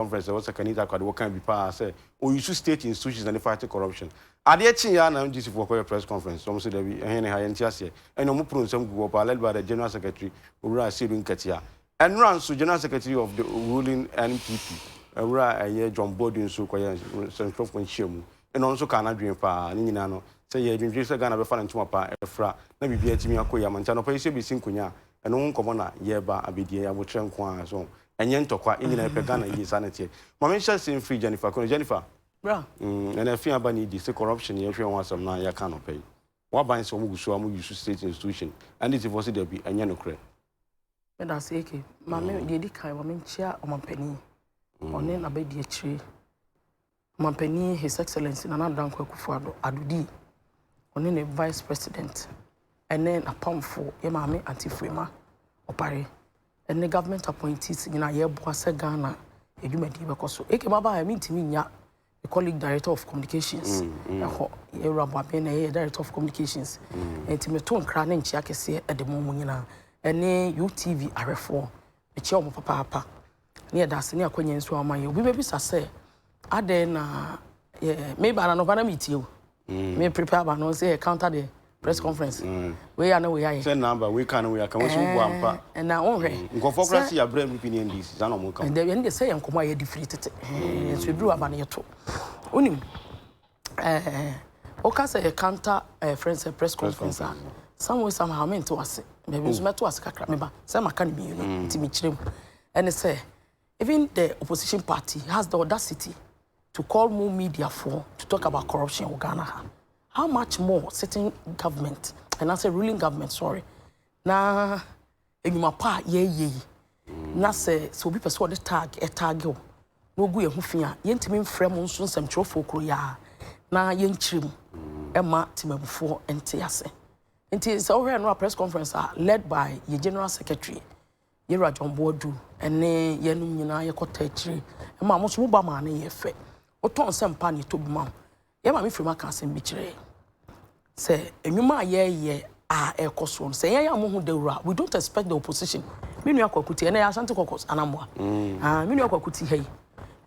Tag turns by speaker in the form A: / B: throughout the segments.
A: conference a ɛwɔ Sakanita Akwade wɔ kan bi paa sɛ ɔuse state institutions na de fight corruption. Adeɛ kyeeɛ ara na MGC foɔ kɔyɛɛ press conference, wɔn nso dabi, ɛhe ne ha, yɛnte aseɛ. Ɛnna wɔn poro nsɛm guu hɔ paa, led by the General Secretary, Owura Sedu Nketiah. Ɛnnora nso, General Secretary of the ruling NPP, Owura ɛyɛ John Boadu nso kɔyɛɛ nsɛntwerɛfoɔ nhyiamu, ɛnna ɔno nso kaa n'adwene paa. Ne nyinaa no, sɛ yɛredwendwene sɛ Ghana bɛfa ne ntoma pa afira na biribiara atumi akɔ yie ama, nti anɔpa yi sɛ yɛbɛsi nkonnwa a, ɛno ho nkɔmmɔ na yɛreba abɛdi, ɛyɛ aboterɛ nko ara, so ho. Ɛnyɛ ntɔkwa ɛnyina yɛpɛ Ghana yie saa na ɛteɛ ma me nhyɛ ase mfiri Jennifer Kono Jennifer Bra.
B: Umm ɛna ɛfee aba
A: ne di se corruption yɛ hwɛ ho asɛm no a yɛ ka no pɛ yi waban se ɔmo gu so a ɔmo use state institution ɛne tifoɔ se dabi ɛnyɛ nokorɛ.
B: Meda ase AK. Ma me deɛ ɛdi kan ma menkyia ɔmampanin, ɔne n'abadiakyire. Ɔmanpanin His Excellency Nana Addo Dankwa Akufo-Addo, Addo D, ɔne ne Vice President ne n'apamfoɔ, yɛn maame Aunty Freema Opare, ne government appointees nyinaa, yɛreboa sɛ Ghana adwumadie bɛkɔ so. AK Maba a, mentumi nnya me colleague Director of Communications hɔ, Yɛwura Boaben na ɛyɛ yɛn Director of Communications. Enti meto nkra ne nkyea kɛseɛ de ma wɔn nyinaa, ne UTV ahwɛfoɔ, mekyea wɔn papaapa. ne yɛda ase ne akwanya nso a ɔma yɛ. Obi bɛbisa sɛ, adɛn na meba no anɔpa na metie o. Mm. Me prepare ba no sɛ counter the press conference. Mm. Wei a na wei ayɛ. Sɛ namba wei ka no wei aka wɔn sɛ wobu ampa. Eh, na wɔnhwɛ. Mm. Nkɔfoɔ kora si abrɛ NPP ne NDC saa na wɔn ka. Ɛdɛ yɛn de sɛ yɛn nkɔmɔ a yɛde firi tete. Nso mm. ebi wɔ aba no yɛto. Wonim. Eh, woka sɛ yɛ counter eh, friend sɛ press conference a some way somehow mente wase baabi nso mɛto ase kakra meba sɛ maka no mmienu nti mekyerɛ mu ɛne sɛ even the opposition party has the audacity to call more media for to talk about corruption wɔ Ghana ha how much more sitting government and I say ruling government sorry na Nnwuma pa a yɛreyɛ yi, na sɛ sɛ obi pɛ sɛ ɔde tag tag wo na ogu yɛn ho fi a, yɛntumi mfrɛ mo nso nsɛmtwerɛfoɔ koro yɛ a na yɛnkyerɛ mu ɛma temamufoɔ nte ase. Nti sɛ wohwɛ no a press conference a led by yɛ general secretary yɛwura John Boadu ne yɛnom nyinaa yɛkɔtaa akyire ɛma mo nso mo ba maa no yɛɛ fɛ. Wotɔ nsɛmpa na ɛtɔ bi ma wo. Yɛn maame firim aka asɛm bi kyerɛ yɛn sɛ nnwuma a yɛreyɛ a ɛrekɔ soɔ no sɛ yɛn yɛn ho dawuro a we don't expect the opposition me nua kwaku ti ɛnna yɛ asante kɔkɔs anamboa mm. ah, me nua kwaku ti ha yi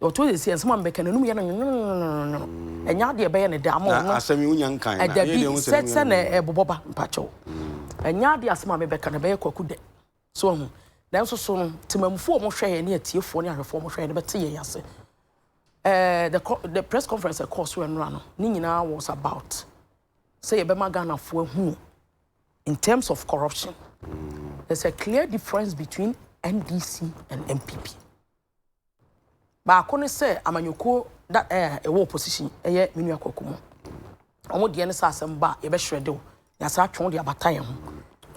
B: ɔtɔ yɛ si ɛnsɛm a mbɛka n'anum yɛ no nyonyono mm. ɛnya adeɛ ɛbɛyɛ ne dɛ ama ɔno asɛm yi wonya nkan ɛda bi sɛ sɛ na ɛbobɔ ba mpakyɛw mm. ɛnya adeɛ asɛm a mebɛka no ɛbɛyɛ kwaku dɛ So wahu? Nanso so no temamufo a wɔhwɛɛ ne atiefoɔ ne ahwɛfoɔ a wɔhwɛɛ no bɛte yɛn ase? Ɛɛ, the, the press conference a ɛkɔɔ so ɛnora no, ne nyinaa was about sɛ yɛbɛma Ghanafoɔ ahunu in terms of corruption. There's a clear difference between NDC and NPP. Baako ne sɛ amanyɔkuo da ɛɛ a ɛwɔ opposition ɛyɛ me nua Kwaku mu. Wɔn deɛ ne sɛ asɛm ba a yɛbɛhyerɛde wo na yɛasan atwe wo de abata yɛn ho.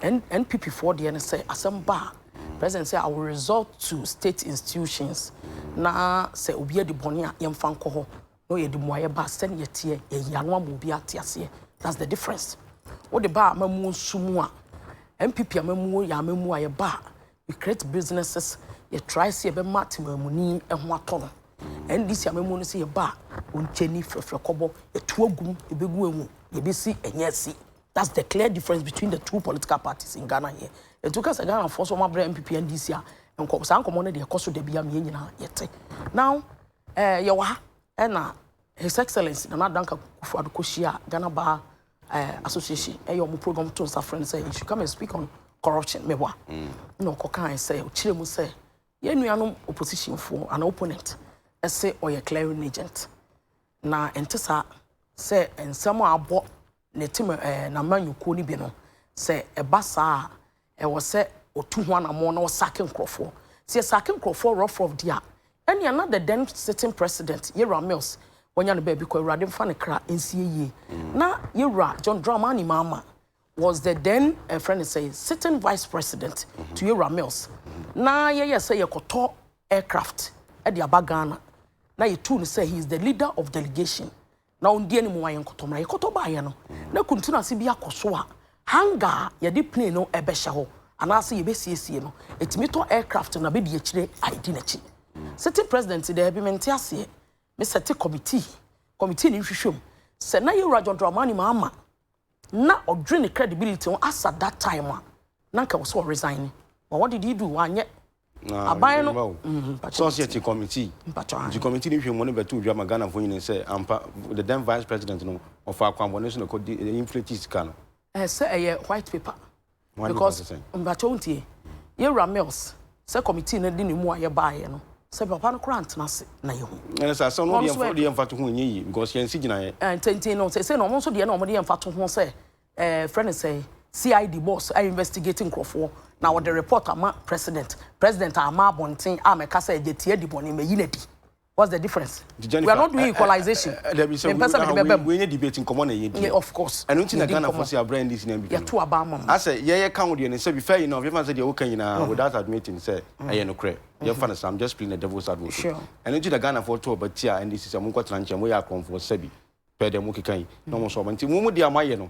B: N NPP foɔ deɛ ne sɛ asɛm ba a president sɛ I will resort to state institutions na sɛ obi adi bɔne a yɛmfa nkɔ hɔ na ɔyɛ de mmuaeɛ ba a sɛdeɛ yɛteɛ yɛyi ano ama obi ate aseɛ. That's the difference. Wode ba amammuo nso mu a NPP amammuo yɛ amammuo a yɛba a We create businesses yɛ try sɛ yɛbɛma temamuni ho atɔ no NDC amamu no sɛ yɛba a ɔnkyɛni frɛfrɛ kɔbɔ yɛto agum yɛbɛgu ahu yɛbɛsi ɛnyɛ asi that's the clear difference between the two political parties in Ghana here ɛnti woka sɛ Ghanafoɔ so ɔmabrɛ MPP NDC a nkɔ saa nkɔmmɔ no deɛ ɛkɔ so da bi a mmiɛ nyinaa yɛte now eh, yɛwɔ ha ɛna His Excellency Nana Dankwa Kufuor kɔhyiaa Ghana Bar Association ɛyɛ wɔn program to nsa frɛ no sɛ he should come and speak on corruption mɛwa na ɔkɔkae sɛ ɔkyerɛ mu sɛ yɛn nuanom opposition foɔ anaa opponent ɛse ɔyɛ clearing agent na ɛnte saa sɛ nsɛm a abɔ ne tim n'amanyɔkuo no bi no, sɛ ɛba saa a, ɛwɔ sɛ ɔtu ho anammɔn na ɔsake nkurɔfoɔ. Sɛ yɛsake nkurɔfoɔ rough rough deɛ a, ɛnea na the then sitting president Yɛwura Mills wanya ne baabi kɔ, Awurade mfa ne kra nsie yie. Na Yɛwura John Dramani Mahama was the then ɛfrɛ ne sɛ sitting vice president to Yɛwura Mills. Na yɛyɛ sɛ yɛkɔtɔ aircraft de aba Ghana na yɛtuu no sɛ he is the leader of delegation Na wɔn deɛ no mu ayɛ nkɔtɔ mmerɛ yɛkɔtɔ baeɛ no na kuntunase bi akɔ so a hanger a yɛde plane no ɛbɛhyɛ hɔ anaasɛ yɛbɛsiesie no ɛtumi tɔ aircraft no na bɛdi akyire a ɛdi n'akyi sitting president daabi mente aseɛ me sɛte committee committee no nhwehwɛ mu sɛ na yɛwura John Dramani Mahama na ɔdwen ne credibility ho asa that time a na nka ɔsɛ ɔresign ne but what did he do wanyɛ aban no society
A: committee nti committee no hwɛ mu ne bɛto dwa ma Ghana fo nyina sɛ ampa the then vice president no ɔfa akwanbɔne so na kɔ inflate sika no ɛsɛ ɛyɛ
B: white paper because mpakyɛ wo ntie yɛwura mills sɛ committee no de ne mu a yɛbaeɛ no sɛ papa no koraa ntena ase na yɛhu ɛne sɛ asɛm no deɛ
A: yɛ mfa to ho ɛnyɛ yi because yɛnsi gyinaeɛ eh, ntintin no sɛsɛ na
B: ɔmo nso deɛ na ɔmo de yɛ mfa to ho sɛ eh, frɛ no sɛ cid boss a investigate nkurɔfoɔ na ɔde report ama president president ama abɔnten a mɛka sɛ agya tie adi bɔne mayi no adi What's the difference? Nti Jennifer, we are not doing equalization. Eh, eh, eh, eh, me pesa me de bɛbɛ
A: mu. We nye debate nkɔmɔ na yɛ di. Of course. Ɛno nti na
B: Ghana fo si
A: abira NDC na MPP. Yɛ to aba ama mu. Asɛ
B: yɛ yɛ kan deɛ
A: ne sɛ bi fɛ yi na ɔbɛfa sɛ deɛ o kan nyinaa mm-hmm. without admitting sɛ mm-hmm. ɛyɛ no korɛ. Yɛ fa mm-hmm. no sɛ I'm just playing the devil's advocate. Ɛno nti na Ghana
B: fo to
A: ɔba tia NDC sɛ mo nkɔ tena nkyɛn mo yɛ akɔnfo sɛ bi pɛ dɛ mo keka yi na mo sɔ ɔba nti mo mo deɛ mo ayɛ no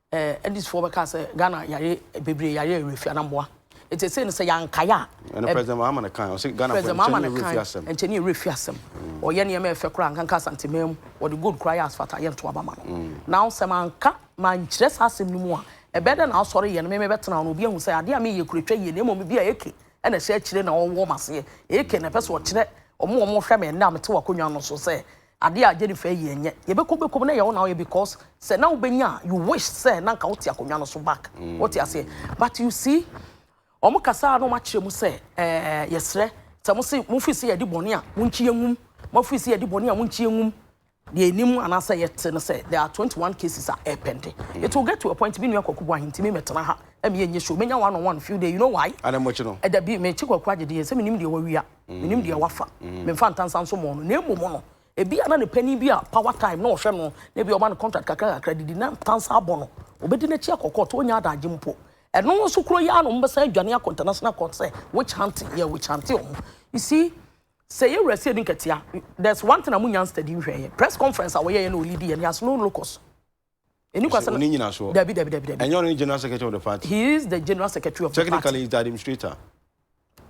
A: Edis foɔ bɛka sɛ Ghana yare bebree yare yɛ Rafi Anamboa nti ɛsɛ no sɛ yankae a ɛne President Mahama ne kan ɔsɛ Ghana President Mahama ne kan
B: nkyɛn ne yɛ Rafi asɛm ɔyɛ nneɛma ɛfɛ koraa nkanka Asante man mu wɔde gold koraa yɛ asfalt a yɛnto aba ma no mm. na sɛ manka mankyerɛ saa asɛm no mu a ɛbɛyɛ dɛ na asɔre yɛ no meme bɛtena no obi ahu sɛ adeɛ a meyɛ kura twa yie na mmom bi a eke ɛna ɛhyɛ akyire na ɔwɔ maseɛ eke na ɛpɛ sɛ ɔkyerɛ ɔmo ɔmo hwɛ me ɛnna mete wakonnwa no so sɛ Adeɛ a Jennifer yɛ nyɛ yɛbɛkɔ bɛkɔ mu na ɛyɛ wo na woyɛ because sɛ na wobɛnya a you wish sɛ na nka wote akonnwa no so back wote aseɛ but you see wɔn kasaa na wɔn akyerɛ mu sɛ ɛɛ yɛsrɛ sɛ mo se mo firi sɛ yɛde bɔne a mo nkyi engum mo firi sɛ yɛde bɔne a mo nkyi engum deɛ enim anaasɛ yɛte no sɛ there are twenty one cases a ɛpɛnde it will get to a point mi nua kwaku bu ahentimi mɛtena ha ɛmi yɛ nye show menya one on one few day you know why Ana mo kyi no? ɛdabi
A: mekyi kwaku
B: agyedeɛ sɛ menim deɛ wawia. menim deɛ wafa memfa ntansa nso mɔɔ no na mmom no ebi a na ne panin bi a power time na ɔhwɛ no na ebi ɔma no contract kakra kakra didi na ntansa abɔ no obɛdi n'akyi akɔkɔ to ɔnya adagye mpo ɛno nso kuro yi a na ɔmbɛsan adwane akɔ international court sɛ witch hunting yɛ witch hunting ɔmo you see sɛ yɛ wura si adi nkatia there's one thing a mo nya study nhwɛ yɛ press conference a wɔyɛ yɛ na ɔlidi yɛ ne ase no locus Ɛnni kwa sɛ. Ɔsɛ ɔne nyinasoɔ. Dabi, dabi,
A: dabi, dabi. Ɛnyɛ ɔno ne
B: general
A: secretary of the party. He is the general secretary
B: of the party. Technically, he is the administrator.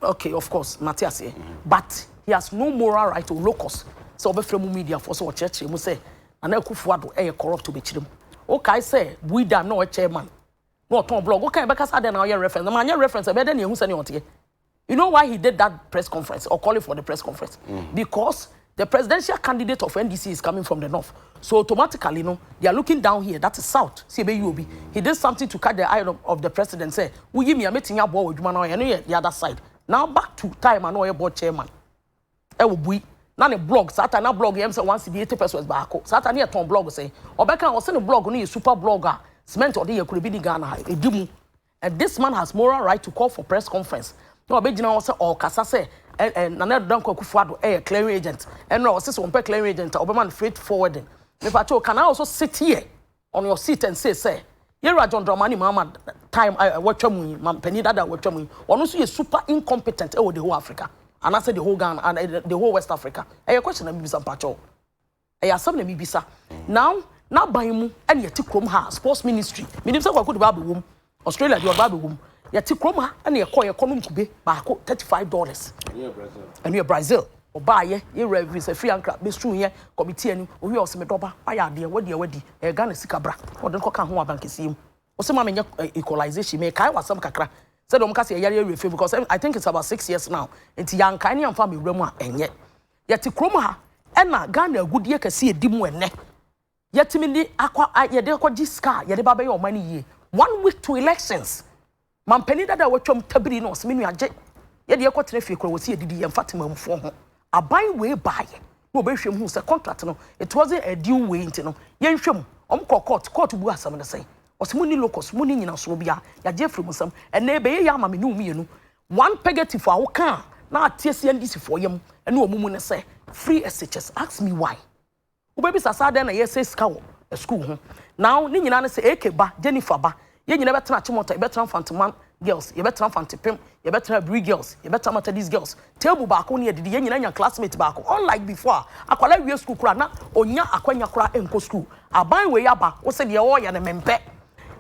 A: Okay,
B: of course, mate aseɛ. Mm -hmm. But he has no moral right or locus sɛ ɔbɛfrɛ mu media foɔ sɛ ɔkyerɛkyerɛ mu sɛ Nana Akufo Addo ɛyɛ corrupt ɔbɛkyerɛ mu. Wokae sɛ Buida na ɔyɛ chairman na ɔtɔn blog. Wokae bɛka sɛ adɛn na ɔyɛ reference. Na manyɛ reference ɛbɛyɛ dɛ na ɛhu sɛnea ɔteɛ. You know why he did that press conference or calling for the press conference? Mm. Because the presidential candidate of NDC is coming from the north. So automatically, no, they are looking down here. That is south. See, mm. he did something to catch the eye of, of the president. Say, we me meeting your boy, you know, the other side. Now back to time, I know your boy chairman. I will be na ne blog saa ta na blog yɛm sɛ one cd eighty pesos baako saa ta ne yɛ tɔn blog sɛ ɔbɛka ɔsɛ ne blog no yɛ super blog a cement ɔde yɛ kuro bi ne ghana ha edi mu And this man has moral right to call for press conference. Na ɔbɛgyina hɔ sɛ ɔrekasa sɛ ɛ- ɛ, Nana Addo Dankwa Akufo-Addo yɛ clearing agent. Ɛno a ɔse sɛ ɔmpɛ clearing agent a ɔbɛma no freight forwarding. Mepa kyɛw, can I also sit here on your seat and say sɛ Yɛwura John Dramani Mahama time a watwa mu yi, ma panin dada a watwa mu yi, ɔno nso yɛ super incompetent ɛwɔ the whole Africa anaasɛ the whole Ghana, and, eh, the whole West Africa. Ɛyɛ question na mebisa mepa kyɛw. Ɛyɛ asɛm na mibisa. Now n'aban mu na yɛte kurom ha sports ministry menim sɛ Kwaku de ba abɛwom Australia deɛ ɔba abɛwom yɛte kurom ha na yɛkɔ yɛkɔ nom kube baako 35 dollars ɛno yɛ Brazil ɔbaayɛ yɛwura ɛfiri sɛ firi ankra bɛsuu yɛ kɔmiti ani owie ɔse me dɔba wayɛ adeɛ wadi a wadi ɛyɛ Ghana sika bra ɔde no kɔka ho abankɛseɛ mu ɔse ma menyɛ eh, equalization mekae wasɛm kakra sɛdeɛ ɔmka sɛ yɛyare awie fam because eh, I think it's about six years now nti yɛankae ne yɛmfa mewura mu a ɛnyɛ Yɛte kurom ha ɛna Ghana agudie kɛse ɛdi mu ɛnɛ. Yɛtumi de akɔ yɛde akɔgye sika a yɛde ba bɛyɛ ɔman no yie. One week to elections. Mampanin dada a watwam tabiri no ɔsɛ me nua gye yɛde ɛkɔ tena fie kora wɔsi adidi yɛn fa temamfoɔ ho. Aban wei baayɛ na wɔbɛhwɛ mu hu sɛ contract no it wasn't a due wei nti no yɛnhwɛ mu. Wɔn kɔ court, court bu asɛm no sɛn? Ɔsɛ mo ni locus, mo ni nyinasoɔ biara, yɛagye afiri mo nsam. Ɛnna ɛbɛyɛ yɛ ama me ne wo mmienu. One pegetifo a wokaa na ateɛ si NDCfoɔ yam ne ɔmo mu ne sɛ free SHS ask me why wobɛbisa saa dɛn na yɛsɛe sika wɔ school ho now ne nyinaa ne sɛ AK ba Jennifer ba yɛn nyinaa bɛtena Achimota yɛbɛtena Mfanteman girls yɛbɛtena Mfantepem yɛbɛtena Aburi girls yɛbɛtena Matadis girls table baako ne yɛdidi yɛn nyinaa nya classmate baako unlike before a akwadaa wie school koraa na ɔnya akwanya koraa ɛnkɔ school aban wei aba wo sɛ deɛ ɔɔyɛ no mempɛ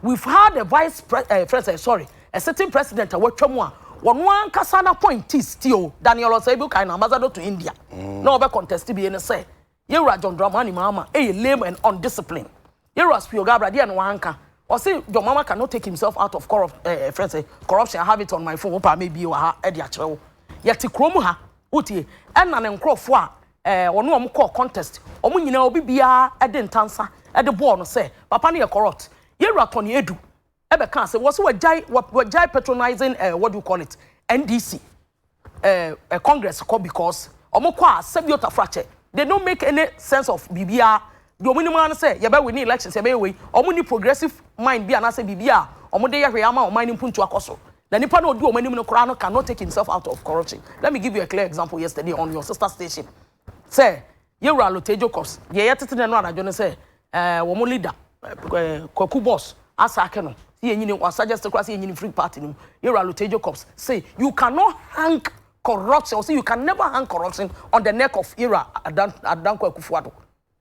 B: we've had a vice pre eh, friend sorry A sitting president a watwa mu a wɔn ankasa n'appointees ti o, Daniel Osei-Abu kae no, ambassador to India, na ɔbɛ contest bie no sɛ, Yɛwura John Dramani Mahama yɛ lame and undisciplined. Yɛwura Spioga Abra deɛ no wanka. Ɔse John Mahama cannot take himself out of corrupt, eh, eh, friend say, corruption, I have it on my phone, wopaa mebie wɔ ha de akyerɛ wo. Yɛte kuro mu ha, wotie, ɛna ne nkorɔfoɔ a eh, ɔne ɔmo kɔɔ contest, ɔmo nyinaa obi biara de ntansa de bɔɔ no sɛ papa no yɛ corrupt. Yɛwura Tony Adu, ɛbɛ kaa sɛ wɔsɛ wɔgyae wɔgyae patronizing eh, what do you call it NDC eh, eh, Congress kɔ because wɔn kɔ a sɛbi otafrakyɛ they don't make any sense of biribiara deɛ wɔn nim ara ne sɛ yɛbɛ win elections yɛbɛyɛ wei wɔn ni progressive mind bi anaasɛ biribi a wɔn de yɛ hwee ama wɔn ne mpuntu akɔ so na nipa na odi wɔn anim no koraa no cannot take himself out of corruption let me give you a clear example yesterday on your sister station sɛ Yɛwura Lotay Jacobs deɛ yɛtete nɛ no anadwo no sɛ eh, wɔn leader eh, Kwaku Boss asake no sɛ yɛnyini wasagest koraa sɛ yɛnyini free party no mu Yɛwura Lotay Jacobs say you cannot hang corruption or say you can never hang corruption on the neck of Yɛwura Adan Adanko Akufo-Addo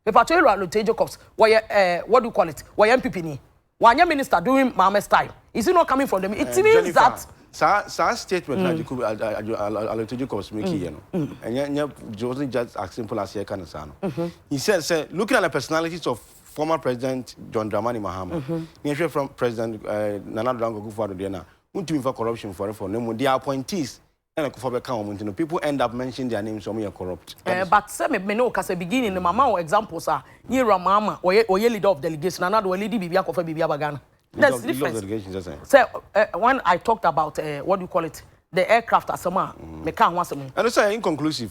B: mepatwɛ Yɛwura Lotay Jacobs wɔyɛ eh, what do you call it wɔyɛ MPP ni Wanyɛ minister during Mahamat's time. Is it not coming from the it means Jennifer, that. Saa saa statement na
A: Jacob Alito Jacobs making yɛ no. Ɛnyɛ nyɛ it wasn't just as simple as yɛka no saa no. He said sɛ looking at the personalities of former president John Dramani Mahama na yɛhwɛ from president Nana Addo Dankwa Akufo-Addo deɛ no a wontumi mfa corruption mfɔre fam na mmom their appointees na kufoɔ bɛka wɔn nti no people end up mentioning their names wɔn yɛ corrupt that is. But sɛ me me ne
B: wo kasa beginning no mama wo examples a ne awura maama ɔyɛ ɔyɛ leader of delegation ana de ɔlidi biribi akɔfa biribi aba Ghana Leader there's of leader of difference delegation sɛ sɛn. sɛ eh, when I talked about eh, what do you call it the aircraft asɛm a meka ho asɛm yi. Ɛno sɛ ɛyɛ inconclusive.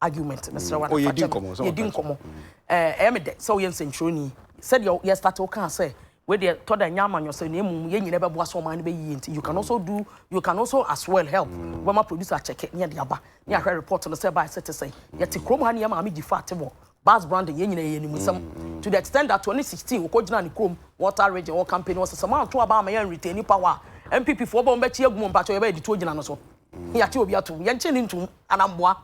B: argument mesrɛ wa nafa kyɛ me yɛdi nkɔmmɔ ɛyɛ me dɛ sɛ woyɛ nsɛntwerɛni sɛdeɛ yɛ start wo kaa sɛ wedeɛ tɔ da nyɛ amanyɔsɛ na mmom yɛ nyina bɛboa sɛ ɔman no bɛyie nti you can also do you can also as well help wobɛma producer akyɛke ne ɛde aba ne ahwɛ report no sɛ ɛbaɛ sɛ te sɛ yɛte kurom ha ne yɛ maame gyi fat wɔ bas branding yɛ nyina yɛ anim nsɛm to the extent that 2016 wɔkɔgyina ne kurom water region wɔ campaign wɔ sɛ sɛ manto aba ama yɛ retaining power a MPP foɔ bɔ mbɛkyi agu mu mpakyɛ yɛbɛyɛ de tuo gyina no so mm. yɛate obi atom yɛnkye ne ntom anamboa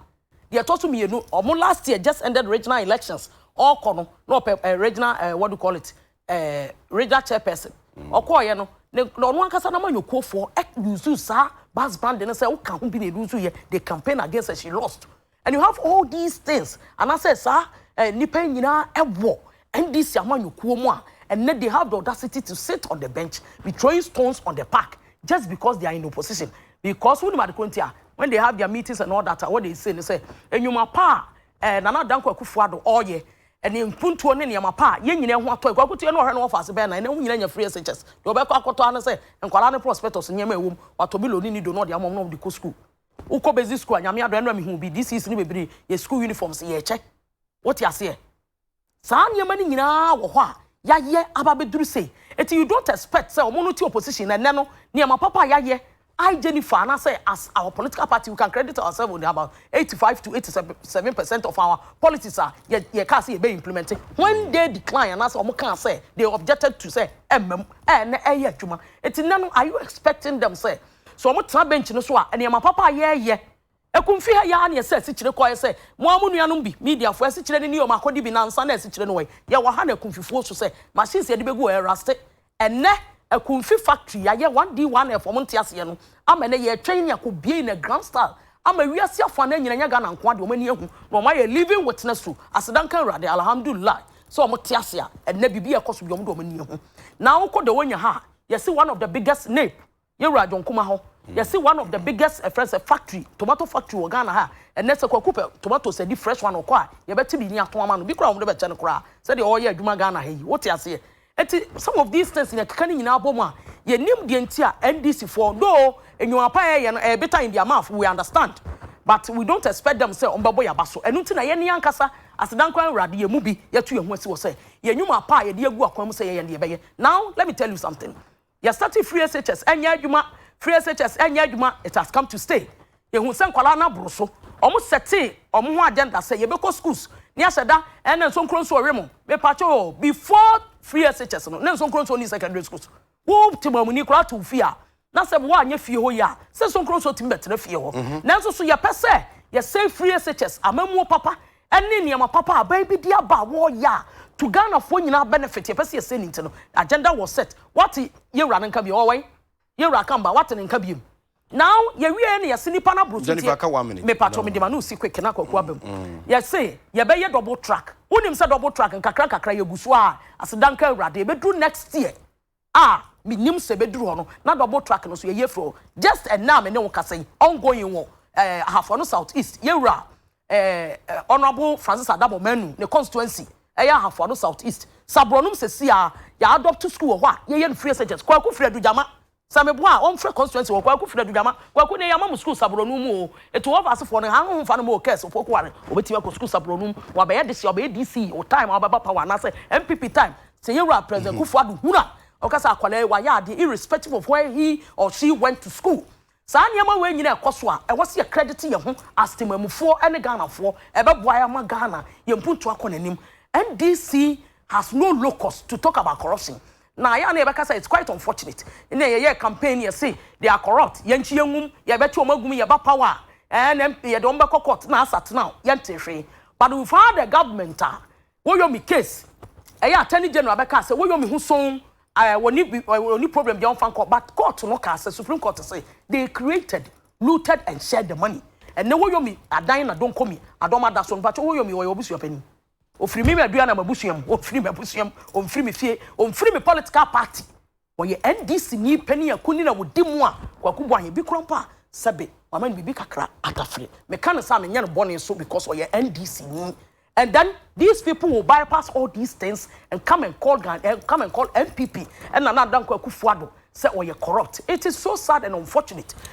B: deɛ ɛtɔ so mmienu ɔmo last year just ended regional elections ɔkɔ no na ɔpɛ eh, regional eh, what do you call it eh, regional chairperson mm. ɔkɔɔyɛ no na ɔno ankasa nama nyɔkuofoɔ yusu saa bas band no sɛ woka ho bi na ɛdu nso yɛ the campaign against her she lost And you have all these things anaasɛ saa eh, nnipa yi nyinaa ɛwɔ NDC amanyɔkuo mu a ɛnɛ they have the audacity to sit on the bench be throwing stones on the park just because they are in opposition because wonim ade koro nti a when they have their meetings and all that a what they say ne sɛ nnwuma pa a eh, Nana Dankwa Akufo-Addo ɔreyɛ ɛne mpuntuo ne nneɛma pa a yɛn nyinaa ho atɔ ɛkɔ akotua no ɔhwɛ no wɔfa ase bɛyɛ na ɛnɛ ho nyinaa nya free SHS deɛ ɔbɛkɔ akɔtɔ ara ne sɛ nkwadaa ne prospectus nneɛma a ɛwɔ mu watɔ bi loni ne do na ɔde ama wɔn na wɔde kɔ sukuu Wo kɔ basic school a nyame adom ɛnora me hu bi this is no bebree yɛ school uniforms yɛ kyɛ wo te aseɛ saa nneɛma no nyinaa wɔ hɔ a yɛayɛ aba bɛduru sei eti you don't expect sɛ ɔmo no te opposition na ɛnɛ no nneɛma papa a yɛayɛ I Jennifer and I say as our political party we can credit ourselves with about 85 to 87 percent of our policies are ye ye can say be implemented when they decline and I say omo can say they objected to say emem eh na eh juma it's no are you expecting them say So wɔtra bench no so a, nneɛma papa a yɛreyɛ Ɛkɔ mfi ha yi ara na ɛsɛ asikyire kɔ ayɛ sɛ mo ara mo nuanom bi, mediafoɔ, asikyire no ni o, makɔdi bi nansa na asikyire no wɔ yi. Yɛwɔ ha no Akumfifoɔ su sɛ machines a yɛde bɛgu hɔ ɛrusty. Ɛnnɛ, Akumfi factory yɛayɛ 1D1F, wɔnte aseɛ no, ama ɛnnɛ yɛretwɛn nea kɔbiei no grand style ama wiase afanan nyina ɛnyɛ Ghana nko ara deɛ wɔn ani ahu na wɔn ayɛ living witness to aseda nka Awurade, Alhamdulillah, sɛ wɔte ase a ɛnnɛ biribi ɛrekɔ so bi wɔn de wɔn ani ahu. Now kɔ Dawonya ha a yɛsi one of the biggest nape. yɛ wura adwonkuma hɔ yɛsi one of the biggest ɛfrɛ sɛ factory tomato factory wɔ ghana ha ɛnɛ sɛ kwaku pɛ tomatoes ɛdi fresh one ɔkɔ a yɛbɛte bi ni ato ama no bi kora wɔn de bɛkyɛ no koraa sɛdeɛ ɔyɛ adwuma ghana ha yi wote aseɛ ɛti some of these things yɛn keka ne nyinaa bɔ mu a yɛnim deɛ nti a ndc foɔ doo enyima pa ɛyɛ no ɛyɛ beta in their mouth we understand but we don't expect them sɛ wɔn bɛbɔ yaba so ɛnu ti na yɛn ne yɛn ankasa asedankora nwurade yɛn mu bi yɛtu yɛn ho asi wɔ sɛ yɛn nyuma pa a yɛde agu akwan mu sɛ yɛyɛ ne yɛbɛyɛ now let me tell you something. yɛ starte free SHS ɛnyɛ adwuma free SHS ɛnyɛ adwuma it has come to stay yɛhu sɛ nkwadaa no aboro so wɔn sɛte wɔn ho agenda sɛ yɛbɛkɔ schools ne ahyɛ da ɛna nsonkuro nso ɔwe mo mepakyɛ o before free SHS no na nsonkuro nso ni secondary schools wo te mamuni koraa to fie a na sɛ woanyɛ fie hɔ yi a sɛ nsonkuro nso tumi bɛtena fie hɔ mhm. nanso so yɛpɛ sɛ yɛsɛ free SHS amamuo papa ɛne nneɛma papa a aban bi de aba a wɔreyɛ a to Ghanafoɔ nyinaa benefit, yɛpɛ sɛ yɛsɛ ni nti no, agenda was set. Woate Yewura no nka biem? Ɔwɔ wɛn? Yewura Akamba, woate ne nka biem? Now, yɛwieɛ na yɛse nipa no aboro so nti yɛ, mepatwɔ mede m'ano resi quick na Kwaku aba mu, yɛse yɛbɛyɛ double track. Wonim sɛ double track, nkakra nkakra yɛgu so ara, aseda nka Awurade, ɛbɛduru next year, a minnim sɛ ebeduru hɔ no, na double track no so yɛ yafuru o, just ɛnnɛ a me ne wo kasa yi, ongoing wɔ eh, Ahafo-Ano South East, Yɛwura eh, Honourable Francis Adabor Manu ne constituency, ɛyɛ Ahafo-Ano South East, Sabrɔnom sɛsi a, yɛ adopt school wɔ hɔ a yɛyɛ no free SHS, Kwaku firi Adugyama, sɛ meboa a ɔmfrɛ constituency hɔ, Kwaku firi Adugyama, Kwaku nnɛ yɛama mo school Sabrɔnom mu o, ɛti wɔ Ɔfaasefoɔ no, han homfa no ma Okers, Opoku-Ware, obetumi akɔ school Sabrɔnom, wabɛyɛ dehye, ɔbɛyɛ DC, wo time a wobɛba power anaasɛ NPP time, Sɛ yɛn wura President Kufuor Addo hunu a, ɔka sɛ akwadaa yi wayɛ adeɛ irrespective of where he or she went to school. Saa nneɛma wei nyina ɛkɔ so a, ɛwɔ sɛ yɛkredite yɛn ho as temammufoɔ ne Ghanafoɔ. Ɛbɛboa yɛn ama Ghana yɛn mpuntuo akɔ n'anim. NDC has no locus to talk about corruption. Na ɛyɛ a na yɛbɛka sɛ it's quite unfortunate. Ɛnna yɛyɛɛ campaign no yɛse they are corrupt, yɛnkye yɛn nwum, yɛbɛte wɔn agu mu, yɛba power a, ɛɛ, na yɛde wɔn bɛkɔ court na asat now, yɛntee hwee. But we've had a government a, Woyomi case ɛyɛ attorney general bɛkaa sɛ woyomi ho sonn ɛɛ wɔni wɔni problem deɛ ɔnfa nkɔ but court no kaa sɛ supreme court se they created looted and shared the money ɛnɛ woyomi adan na donkomi adɔm ada so mpakyɛ woyomi ɔyɛ w'abusua panin ofiri mimi adua na m'abusua mu ofiri m'abusua mu omfiri me fie omfiri me political party Ɔyɛ NDC ni panin a kunini a wodi mu a Kwaku Boah yɛ bi koraa mpo a sɛbe wama no biribi kakra atafere. Meka no saa menyɛ no bɔne nso because ɔyɛ NDC ni and then these people will bypass all these things and come and call Ghan eh, come and call NPP and Nana Addo Dankwa Akufo-Addo sɛ ɔyɛ corrupt. It is so sad and unfortunate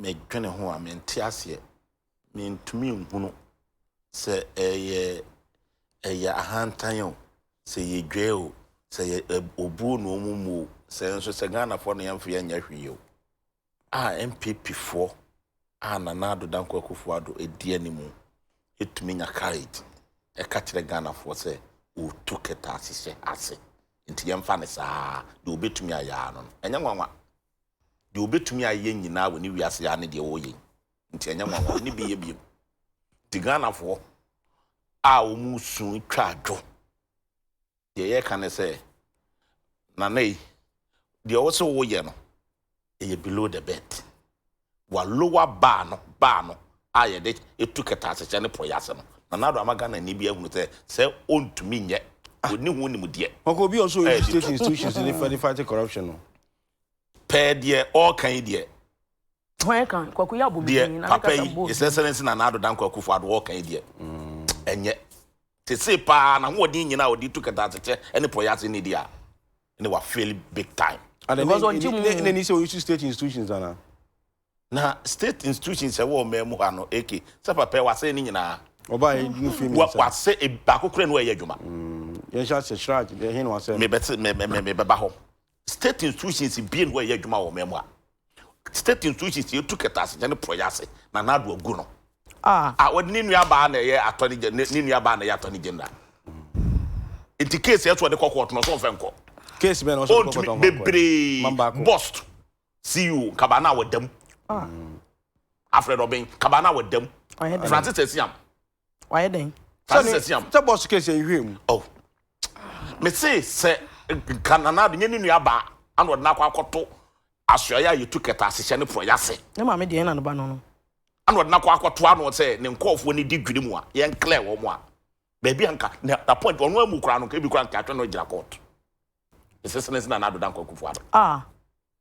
C: medwene ho a mente aseɛ mentumi nhunu sɛ ɛyɛ ɛyɛ ahantan o sɛ yɛ dwa o sɛ yɛ obuo na ɔmo mu o sɛ nso sɛ ghanafoɔ na yɛmfa yɛnyɛ hwee o a npp foɔ a nana ado dankwa akufo ado edi anim ɛtumi nya courage ɛka kyerɛ ghanafoɔ sɛ ɔtu kɛtɛ ase hyɛ ase nti yɛmfa ne saa deɛ ɔbɛtumi ayɛ ano no ɛnyɛ nwanwa Deɛ ɔbɛtumi ayɛ nyinaa wɔ ne wiase ha ne deɛ ɔreyɛ yi nti ɛnyɛ nwanwa ɔne bi yɛ biom nti Ghanafoɔ a wɔn su twa adwo deɛ yɛka ne sɛ nana yi deɛ ɔwɔ sɛ wɔyɛ no ɛyɛ below the bed wa lower bar no bar no a yɛde etu kɛtaasekyɛ ne pɔ yase no nana ado ama Ghana ni bi ahunu sɛ sɛ ɔntumi nyɛ ɔni ho nimdeɛ. Ɔkɔ bi ɔsɔ
A: institutions ne fight corruption no. pɛɛ
C: deɛ ɔɔka yi deɛ. Hwan ɛka
B: kwaku yɛ abɔ medin na ne kasa mbɔ. His
C: excellence na naado dan kwaku fo ado ɔɔka yi deɛ ɛnyɛ. Sese paa na hoɔden nyina a ɔde tu kɛtɛasekyɛ ɛne pɔyɛ ase ne deɛ a ɛne wa fail big time. Because ɔnkye mu.
A: Ne nani sɛ ɔyusu state institutions anaa. Na
C: state institutions ɛwɔ ɔmaa mu hɔ ano AK sɛ papa yi wasɛe ne nyinaa. Ɔbaa yɛ no firi mi
A: nsa. Wasɛ baako
C: kura ne wɔ ɛyɛ adwuma. Yɛnhyɛ asɛ
A: shraj ɛhe na wasɛe no. Mebɛte mebɛba
C: hɔ. State institutions bie no ɛyɛ adwuma wɔ mɛ mu a state institutions yɛ tu kɛtɛ ase ne porɔyɛ ase na n'ado agu no ah. a wɔde ne nua baa na ɛyɛ attorney general ne nua baa na ɛyɛ attorney general nti case yɛ so ɔde kɔ kɔɔto na ɔsɔ ɔfɛ nkɔ case bɛn na ɔsɔ ɔde kɔ
A: kɔɔto bebree
C: bust CEO nkabaa na wɔdam ah. Alfred
B: Obeng
C: nkabaa na wɔdam Francis Asiam wayɛ dɛn. Saa
A: sɛ siam. Sɛ bɔs kɛ sɛ nhwɛ mu. Oh.
C: Me se sɛ nka nana de nyɛ ne nua baa ana ɔde n'akɔ akɔto asoɛeɛ a yɛtu kɛta asehyɛ ne porɔyɛ ase. Ne maame deɛ na ne ba no
B: no. Ana ɔde n'akɔ
C: akɔto ano sɛ ne nkɔɔfoɔ ne di dwiri mu a yɛn klɛɛ wɔn a baabi a nka na, na point ɔno amu koraa no nka ebi koraa nka atwe no agyina court. Esesene sɛ nana adoda nkɔ akufoɔ aba. Ah.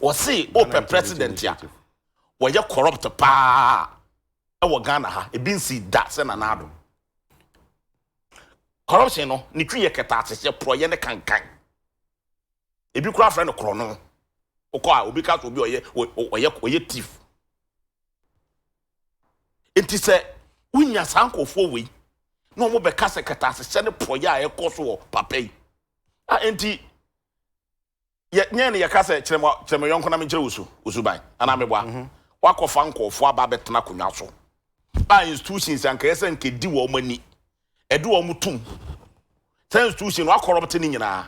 C: Wɔse wopɛ president a wɔyɛ corrupt paa wɔ Ghana ha, ebi nsii da sɛ Nana Addo. Corruption no ne twi yɛ kɛtɛasehyɛ, porɔyɛ ne kankan. Ebi koraa frɛ no korɔno. Wokɔ a obi ka sɛ obi ɔyɛ ɔyɛ ɔyɛ thief. Enti sɛ wonya saa nkurɔfoɔ wei na wɔbɛka sɛ kɛtɛasehyɛ ne porɔyɛ a ɛkɔ so wɔ papa yi a enti yɛ nyɛ ne yɛka sɛ kyerɛ mo kyerɛ me yɔnko na menkyerɛ wo su wo suban anaa mm-hmm. meboa mm-hmm. wakɔfa nkɔɔfo aba abɛtena akonnwa so a institutions ankɛyɛ sɛ nkɛdi wɔn ani ɛde wɔn tum sɛ institution no akɔrɔbte ne nyinaa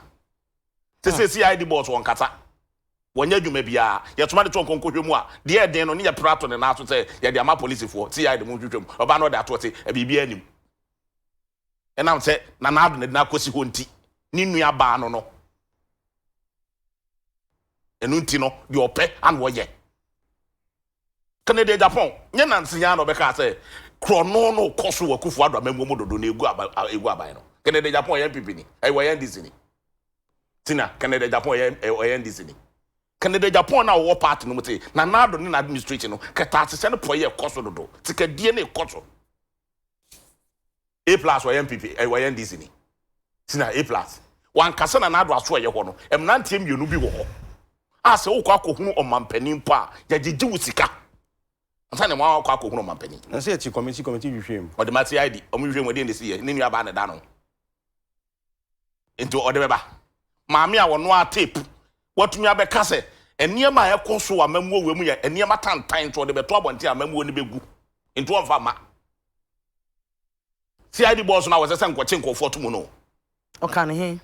C: te sɛ ah. cid boss wɔn kasa wɔnyɛ adwuma biara yɛtoma de to nkɔnkɔhwɛ mu a deɛ ɛden no ne yɛ prato ne nan so sɛ yɛde ama polisifoɔ cid mu nhwehwɛ mu ɔbaa no ɔde ato ɔse biribiara anim Ɛnam sɛ na n'adwene de no akosi hɔ nti, ne nuabaa no no, ɛno nti no, deɛ ɔpɛ ana ɔyɛ. Kennedy Agyapong nyɛ nanse yi ara na ɔbɛkaa sɛ korɔno no kɔ so wɔ Akufo Addo amanmuo mu dodo na egu aba egu aban no. Kennedy Agyapong ɔyɛ NPP ni, ɛyɛ ɔyɛ NDC ni. Tina Kennedy Agyapong ɔyɛ ɔyɛ NDC ni. Kennedy Agyapong na ɔwɔ party no mu te Nana Addo ne n'administration no kɛtɛasehyɛ no pɔyɛ kɔ so dodo, sikadie ne kɔ so. A plus ɔyɛ NPP eh, ɔyɛ NDC ni sina A plus wankasa na n'ado aso ɛyɛ hɔ no mmeranteɛ mmienu bi wɔ hɔ a sɛ wokɔ akɔhunu ɔmampanin mpo a yɛgyegye wo sika ansa na wɔn akɔ akɔhunu ɔmampanin. Na sɛ ɛte kɔmiti kɔmiti
A: hwehwɛ mu. Ɔde ma CID
C: ɔmo hwehwɛ mu ɛdeɛ na ɛsi yɛ ne nua baa na ɛda no. Nti ɔde bɛba. Maame a ɔnoa tape, watumi abɛka sɛ nneɛma a ɛkɔ so wɔ amammuo wei mu yɛ nneɛma tantan nti ɔde bɛto abɔnten a amammuo no bɛgu. Nti ɔmfa mma. CID boss no a wɔsɛ sɛ nkɔkye nkurɔfoɔ to mu no. Ɔka ne he?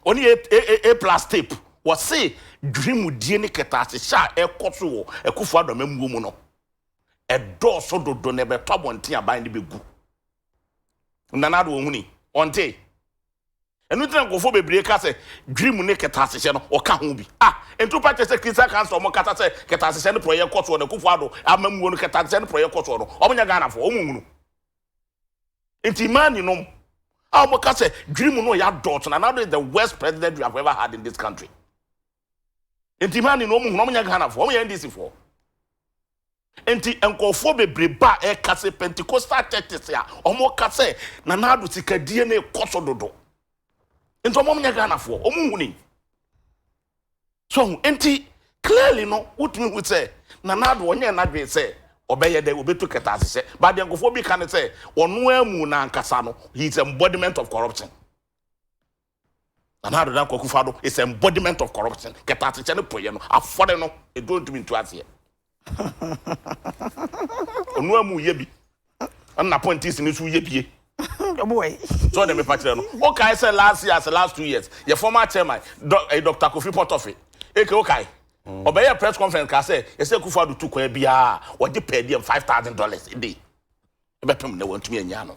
C: Ɔne A, A, A, A plus tape. Wɔse dwirimudie ne kɛtɛasehyɛ a ɛkɔ so wɔ Akufo-Addo amammuo mu no, ɛdɔɔso dodo na ɛbɛto abɔnten a aban no bɛgu. Nana Addo ɔhuni, ɔntee? Ɛno nti na nkurɔfoɔ bebree ka sɛ Dwirimu ne kɛtɛasehyɛ no ɔka ho bi. Ah, nti wopɛ akyerɛ sɛ Christian Council a wɔkasa sɛ kɛtɛasehyɛ no porɔeɛ kɔ soɔ no, Akufo Addo amammuo no kɛtɛasehyɛ no porɔeɛ kɔ soɔ no, wɔnyɛ Ghanafoɔ, wɔnhunu? Nti Imani nom a wɔka sɛ Dwirimu no ɔyɛ adɔɔso, Nana Addo is the worst president we have ever had in this country. nti hane na ɔmu hunu ɔmo nyɛ Ghana foɔ ɔmo yɛ NDC foɔ nti nkɔfoɔ bebree ba a ɛka sɛ Pentecostal churches a ɔmo ka sɛ Nana Addo sikadie na ɛkɔ so dodo nti ɔmo nyɛ Ghana foɔ ɔmo huni so ho nti clearly no wotumi hu sɛ Nana Addo ɔnyɛ n'adwene sɛ ɔbɛyɛ dɛ obetu kɛtɛ ahyehyɛ but deɛ nkɔfoɔ bi ka ne sɛ ɔno amu n'ankasa no he is embodiment of corruption. Nana Addo Dankwa Akufo-Addo is a embodiment of corruption, kɛtɛasekyɛ ne poyɛ no afɔre no eduro ntumi ntu aseɛ. Ɔno amu yɛ bi, ɛna appointees no nso yɛ bie.
B: So ɔde mepa kyerɛ
C: no, wokae sɛ last year ase last two years, yɛ former chairman, Dɔ, eh, Dr. Kofi Potofe, eke wokae? Ɔbɛyɛ press conference kaa sɛ ɛsɛ Akufo-Addo tu kwan biara a ɔgye per diem five thousand dollars a day. Ɛbɛpem nnɛ wantumi annya ano.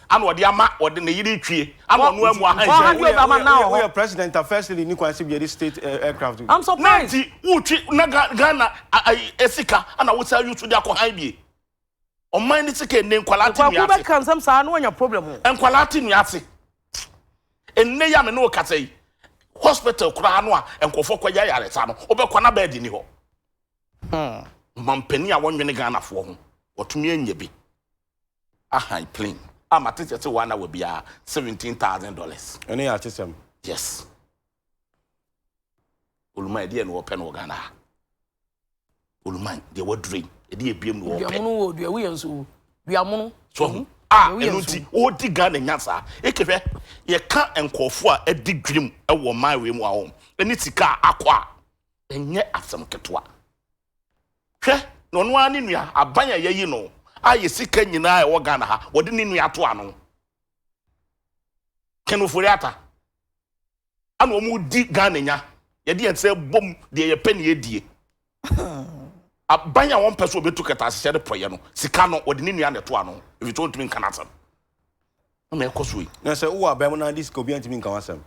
C: Ana ɔde ama ɔde ne yere retwie ana ɔno amu ahanhia. Woyɛ
B: woyɛ woyɛ president a
A: first lady ni kwan sɛ biadi state eh, aircraft bi. Na nti
B: wotwi na Ghana
C: ayi esika ana wosan yusu de akɔ han bie. Ɔman ne sika ene nkwalaa te nua
B: ase. Nkwalaa te nua ase.
C: Ene ya me ne wo kasa yi hospital koraa no a nkɔfɔ kɔ yɛ yaresa no wobɛkɔ na bɛɛdi ni hɔ. Mampanin a wɔnwene Ghanafoɔ ho wɔtumi anya bi. ahan plane a ma ticket se one hour biara seventeen thousand dollars. Ɛne yɛ atesɛm.
A: Yes.
C: Oluman ɛdeɛ na wɔpɛ no wɔ Ghana ha. Oluman deɛ wɔaduro yi ɛdeɛ ebiem na wɔpɛ. Duamono wɔ dua wuyɛ nso wo
B: duamono. So ho a
C: ɛno nti wɔdi Ghana nya saa ekehwɛ yɛka nkurɔfoɔ a ɛdi dwirim ɛwɔ ɔman wei mu ahom ɛne sika akɔ a ɛnyɛ asɛm ketewa. Hwɛ, na ɔno ara ne nua aban a yɛayi no a yɛ sika nyinaa a ɛwɔ Ghana ha, wɔde ne nua ato ano. Ken Ofori Atta. Ana wɔdi Ghana nya. Yɛde yɛn nsa bom deɛ yɛpɛ na yɛdie. Aban a wɔmpɛ so wɔbɛtu kɛtɛ ahyehyɛ de pɔyɛ no, sika no, wɔde ne nua na ɛto ano. Ɛfiri sɛ ɔntumi nka n'asɛm. na ɛkɔ so yi. Na sɛ wowɔ aban mu na
A: ade sika a, obiara ntumi nka w'asɛm.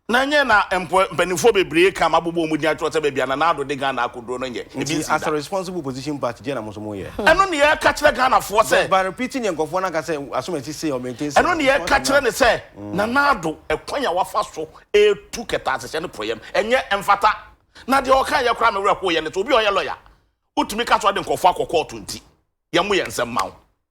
A: Na ɛnyɛ na
C: mpanimfoɔ bebree ka ma bobɔ wɔn din akyerɛ sɛ baabi a Nana Addo de Ghana akɔduro no nyɛ ebi nsi da. Nti as a responsible
A: opposition party deɛ na mo nso mo yɛ? Ɛno na yɛka kyerɛ
C: Ghanafoɔ sɛ. But by repeating deɛ nkurɔfoɔ no
A: aka sɛ Asomasi sei, ɔmaintain sei. Ɛno na yɛka kyerɛ no
C: sɛ Nana Addo ɛkwan a wafa so retu kɛtɛ asehyɛ ne porɔeɛ no ɛnyɛ ɛmfata. Na deɛ ɔkaeɛ koraa a me werɛ hoeɛ ne sɛ obi a ɔyɛ lɔya wotumi ka sɛ ɔde nkurɔfoɔ akɔ kɔɔto nti yɛmmo yɛn nsɛm ma wo.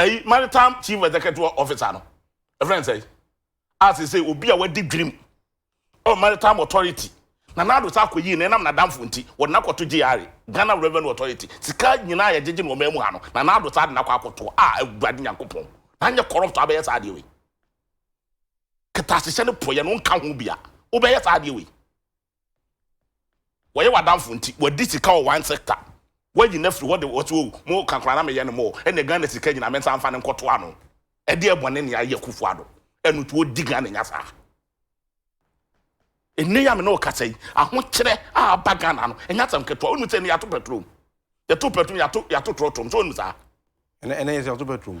C: ɛyi maritime chief executive officer no ɛfrɛ nsɛn a sese obi a wadi dwirim ɔ maritime authority na n'ado sa akɔ yie na ɛnam n'adamfo nti wɔde n'akɔto gyare ghana revenue authority sika nyinaa yɛ gyegye na ɔma mu ha no na n'ado sa de n'akɔ akɔto a awurade nyankopɔn na nyɛ corrupt abɛyɛ saa adeɛ wei kɛtɛ ahyehyɛ ne poyɛ no nka ho bia wobɛyɛ saa adeɛ wei Wɔyɛ w'adamfo nti wɔadi sika wɔ one sector. Woayi no afiri hɔ de wɔse oh mo ka koraa na meyɛ no more ɛnneɛ Ghana sika nyinaa me nsa mfa no nkɔto ano. Ɛdeɛ bɔne nea ayɛ Akufo Addo ɛno nti ɔdi Ghana nya saa. Ɛnnɛ yi a me ne wo kasa yi ahokyerɛ a aba Ghana no ɛnyɛ asɛm ketewa. Wonim sɛ ɛnnɛ yɛato pɛtrom, yɛto pɛtrom, yɛato yɛato trɔtrɔm so wonim saa? Ɛnnɛ ɛnnɛ yɛse yɛato
A: pɛtrom.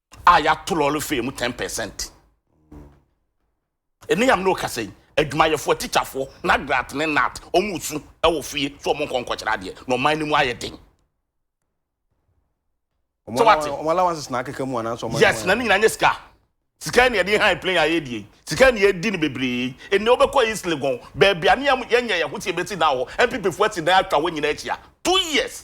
C: a yɛato lɔre fee mu ten percent. Ɛne yam na ɔkasa yi, adwumayɛfoɔ, atikyafoɔ, NAGRAT ne NAT, wɔn resu wɔ fie sɛ wɔn nkɔ nkɔkyerɛ adeɛ na ɔman no mu ayɛ den. Sɛ wate? Wɔn allowances na akeka mu
A: anaasɛ wɔn? Yes, na ne nyinaa nyɛ sika.
C: Sika ni ɛde han plane a yɛdi yi. Sika ni ɛdi no bebree. Ɛnna wobɛkɔ East Legon, baabi a ne yɛnyɛ yɛn ho sɛ yɛbɛsi dan hɔ. NPP foɔ asi dan atwa hɔ nyinaa ahyia. Two years.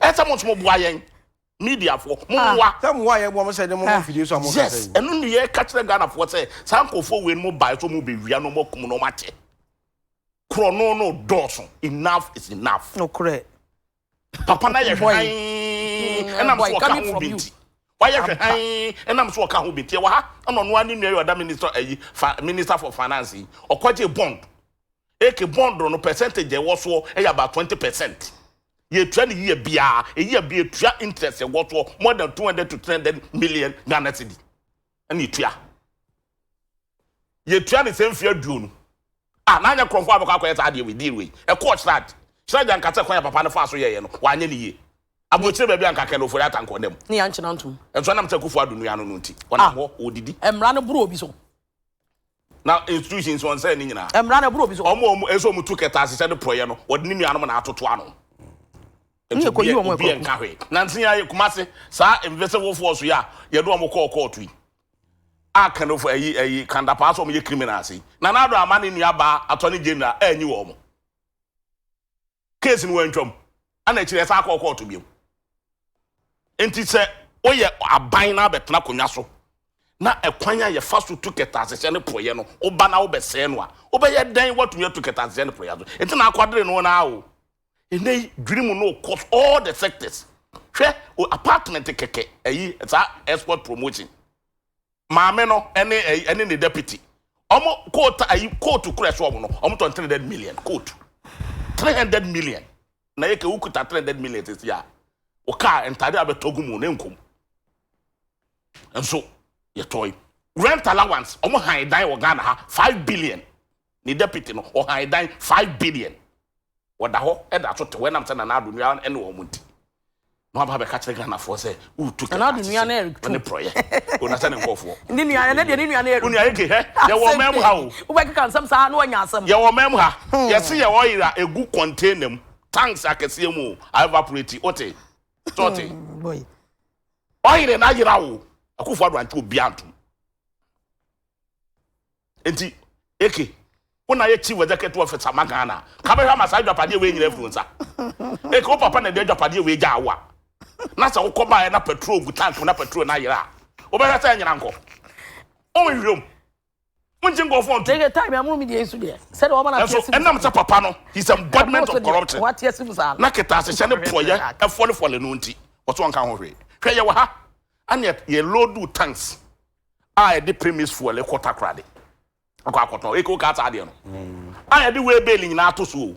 C: ɛsɛ mo nso mo boa yɛn mediafoɔ mo ah. mmoa sɛ mmoa yɛ boa mo sɛ ne
A: mo ah. mfidie so a mo kasa yes ɛno ne yɛ ka kyerɛ
C: Ghanafoɔ sɛ saa nkurɔfoɔ wei no mo bae so mo bɛwia no mo akum no mo akyɛ korɔno no dɔɔso enough is enough nokorɛ
B: papa
C: na yɛhwɛ han mm, ɛnam so ɔka ho bi nti wayɛ hwɛ han ɛnam so ɔka ho bi nti ɛwɔ ha ɛna ɔno ani nua yɛ ɔda minister ayi fa minister for finance yi ɔkɔgye bond Eke bond no percentage a ɛwɔ soɔ yɛ about twenty percent. Yɛtua no year biara, a year biara yɛtua interest a ɛwɔ soɔ more than two hundred to three hundred million Ghana cedi ɛna yɛtua. Yɛtua no sɛ mfeɛ aduonu. Ah, na anyɛ kurɔfoɔ a bɛkɔ akɔyɛ saa adeɛ wei deal wei. Ɛkɔɔ Shraj. Shraj anka sɛ kwan a papa no faa so yɛeɛ no, wanyɛ no yie. Aburokyire baabi anka Colonel Ofori Atta anka ɔnam mu. Ne yɛankyena ntom. Nso
B: ɛnam sɛ Akufo-Addo nua
C: no no nti, ɔnam hɔ, ɔredidi. Mmara no boro obi so.
B: na
C: institutions wɔn sɛ ne nyinaa mmara na ɛboro obi so wɔn wɔn
B: ɛsɛ wɔn tu kɛtɛ
C: asehyɛ ne porɔyɛ no wɔde ne nuanom na atoto ano nti
B: obi yɛ obi yɛ nka hwee nansi
C: yɛ kumase saa invisible force yɛ a yɛde wɔn kɔɔ kɔɔto yi a kanofo ayi ayi kandapaa so wɔn yɛ criminals yi na n'ado ama ne nua baa attorney general ɛnyi wɔn. case no wantwam ana akyiri ɛsan akɔɔ kɔɔto biom nti sɛ woyɛ aban na abɛtena akonnwa so na ɛkwan a yɛfa so tu kɛtɛasehyɛ ne porɔeɛ no woba na wobɛsɛe no a wobɛyɛ dɛn woatumi atu kɛtɛasehyɛ ne porɔeɛ so nti na akwadere no na o ɛnɛ yi dwiri mu no kɔ all the sectors hwɛ o apartment kɛkɛ ɛyi saa export promotion Maame no ne ɛyi ne ne deputy. Ɔmo kootu ayi kootu kura ɛso ɔmo no. Ɔmo tɔn three hundred million kootu. Three hundred million. Na yɛ kɛ wokuta three hundred million sisi a. Wo kaa ntade abɛtɔ gu mu na nkum. Nso yɛtɔe. Rent allowance ɔmo han dan wɔ Ghana ha five billion. Ne deputy no ɔhan dan five billion wɔda hɔ da so tew ɛnam sɛ Nana Addo Nua ne wɔn nti. Na waba abɛka kyerɛ Ghanafoɔ sɛ woretu kɛkɛ ase sɛ ɔne
B: prɔyɛ.
C: O na sɛ ne nkɔɔfoɔ
B: yɛ wo nua eke hɛ yɛwɔ
C: ɔman mu ha o.
B: Yɛwɔ ɔman mu ha.
C: Yɛse yɛ oil a egu container mu tanks akɛseɛ mu o aevaporate wote sɛ ɔte.
B: Oil
C: no ayera o. Akuffo Addo ankyɛ obiara ntom. Enti Eke, wo na yɛ chief executive officer ma Ghana. Ka bɛhwɛ ama saa adwapadeɛ wei nyina afiri wo nsa. Eke, wo papa na ɛde adwapadeɛ wei gyaa wo a, na sɛ wokɔ baeɛ na petrol gu tank mu na petrol no ayera a, wobɛhwɛ sɛ ɛnyera nkɔ? Wonhwehwɛ mu. Wonkyɛ nkurɔfoɔ nto. Eke, time amono media yi
B: so deɛ, sɛdeɛ wɔma no ateɛ si mu saa. Ɛnam sɛ papa no,
C: he's embodiment of corruption, na
B: ketaasehyɛ ne
C: porɔyɛ fɔlefɔle no nti, ɔso ɔnka ho hwee. Hwɛ yɛwɔ ha, ɛne yɛ load tanks. a yɛde premise fuel kɔ takoradi akɔ akɔtɔn eke oka ata adeɛ no a yɛde wheel bale nyinaa to so o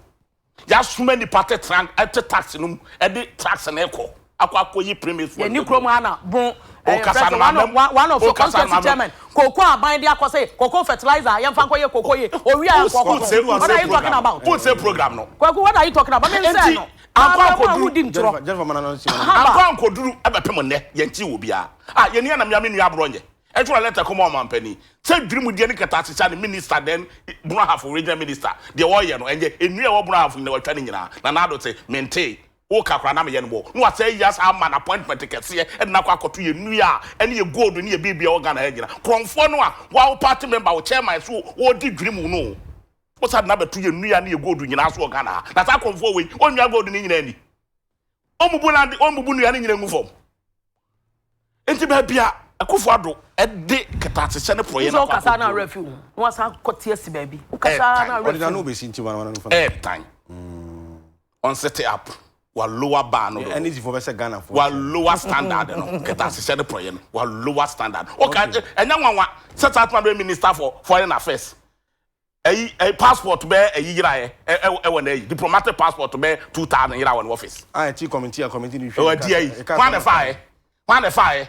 C: yasoma nipa tetena ɛte tax no mu ɛde tax no kɔ akɔ akɔ yi premise fuel yɛni kurom ha na
B: bon ɛyɛ president one
C: of one of your constituency
B: chairman koko aban de akɔ se koko fertilizer yɛn fa nkɔ yɛ koko ye owi a nkɔ koko what are you talking about food sale program no
C: kwaku what are you talking about mi
B: n sɛ no. Ankɔ Abrabɔ a wodi ankoduru ntorɔ. Jennifer Jennifer
C: mana no nsi mana no. Ankɔ ankoduru ɛbɛpem nnɛ yɛnte wɔ biaa a yɛni anam yame nua aborɔ nyɛ ɛtwerɛ lɛtɛ kɔma ɔmanpanin sɛ dwirim deɛ ne kɛtase sane minister dɛn Brɔhafo regional minister deɛ wɔyɛ no ɛnyɛ nnua ɛwɔ Brɔhafo nyina watwa ne nyinaa Nanaado te mentee woka koraa na meyɛ no bɔɔ no wasɛe yɛ saa man appointment kɛseɛ ɛde no akɔ akɔto yɛ nnua a ɛne yɛ gold ne yɛ biribi ɛwɔ Ghana ha nyina korɔmfoɔ no a woa wo party member wo chairman so ɔɔdi dwirim no Wo sa de no abɛto yɛn nnua ne yɛn gold nyinaa so wɔ Ghana ha. Na saa akɔmfoɔ wei, wɔnnwia gold no nyinaa nni. Wɔmmubu no ade, wɔmmubu nnua no nyinaa ngu fam. Enti baabi a Akufo Addo de kɛtɛasehyɛ ne porɔeɛ no akɔ
B: akɔguo no. Airtime. Ɔde n'ano bɛsi nti wɔn ano
A: fam. Airtime.
C: Wɔn sete up. Wa lower bar no. Ɛne zifoɔ bɛsɛ Ghanafoɔ.
A: Wa lower standard
C: no. Kɛtɛasehyɛ ne porɔeɛ no. Wa lower standard. Ɔka ɛnyɛ nwanwa sɛ saa atoma bɛ minister for foreign affairs. Ɛyi ɛyi passport bɛɛ ɛyi yira ɛ ɛ ɛwɔ ɛwɔ na ɛyi diplomatic passport bɛɛ two thousand yira wɔ ne office. Ah ɛti committee a committee
A: ni hwɛ ɛwɔ ɛdi ɛyi hwan
C: na ɛfa ɛ hwan na ɛfa ɛ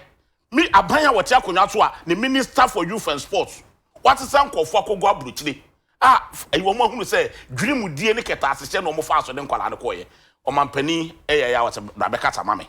C: mi aban a wɔte akonwa so a ne minister for youth and sports wasesa nkorɔfo akɔgu abrokyire a ɛyi wɔn ahunu sɛ dwiri mu die ne kɛtɛasehyɛ na wɔn faa so de nkwadaa no kɔɔyɛ ɔmanpanin ɛyɛ ɛyɛ a wɔsɛ bra bɛkasa ma me.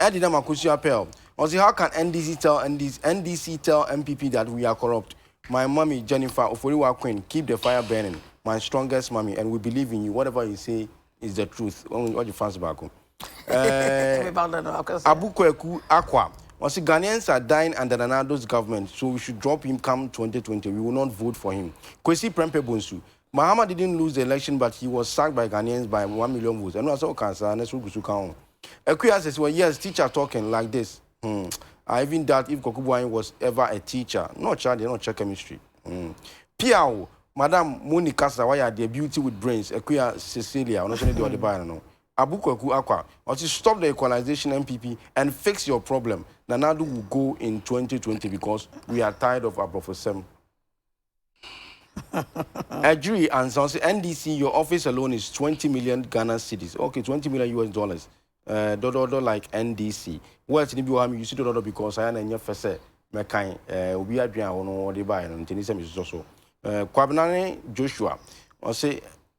A: Ɛde nam akosua pɛl. Ɔse how can NDC tell NDC NDC tell NPP that we are corrupt my mummy Jennifer Oforiwa Queen keep the fire burning my strongest mummy and we believe in you whatever you say is the truth Ɔgye fans baako ɛɛ Abu Kwaku Akwa ɔse Ghanaians are dying under Nana Addo's government so we should drop him come 2020 we will not vote for him Kwesi Prempeh Bonsu Mahama didn't lose the election but he was sacked by Ghanaians by one million votes ɛno a sɛ ɔka saa na sɛ wogusu ka ho Akua says well yes teacher talking like this hmm I even doubt if Kwaku Boahen was ever a teacher na ɔkyerɛ adeɛ na ɔkyerɛ chemistry hmm piaww madam Moni kasa wayɛ adeɛ beauty with brains Akua Cecilia ɔno nso ne deɛ ɔde baeɛ no no abu Kwaku akwa ɔse stop the equalization NPP and fix your problem Nana Addo will go in 2020 because we are tired of aborɔfosɛm. Adwiri ansa ɔsɛ NDC your office alone is twenty million Ghana cedis okay twenty million US dollars ɛɛ eh, dɔdɔdɔ like NDC words ni bi wɔ ha mi use dɔdɔdɔ because ayɛ na ɛnyɛ fɛ sɛ mɛkan ɛɛ eh, obi adwene a wɔn wɔde baeɛ no ntini sɛ mi sosɔ so ɛɛ eh, Kwabena ne Joshua ɔsɛ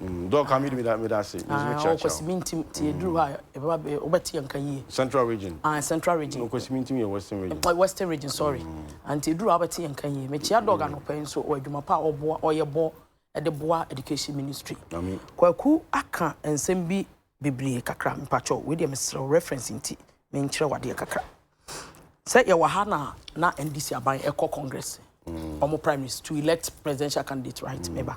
B: Dɔɔ ka me di me da
A: me da se me nso me kyia kyia. Ɔkwasi mi ntim
B: ti eduru hɔ a ɛbɛba bɛ ɔbɛ ti yɛ nka yie. Central region. Ah
A: central region. Ɔkwasi
B: mi ntim yɛ western
A: region. Ɔkwasi western region sorry.
B: Anti eduru hɔ a ɔbɛ ti yɛ nka yie. Me kyia dɔɔ anɔpɛ yi nso ɔwɔ adwuma pa a ɔboa ɔyɛ bɔ ɛde boa education ministry. Ami. Kwaku aka nsɛm bi bebree kakra mpakyɛw wei deɛ mesrɛ wo reference nti me nkyerɛ wo adeɛ kakra sɛ yɛwɔ ha na na NDC aban ɛkɔ congress wɔn mm. primaries to elect presidential candidate right mm. meba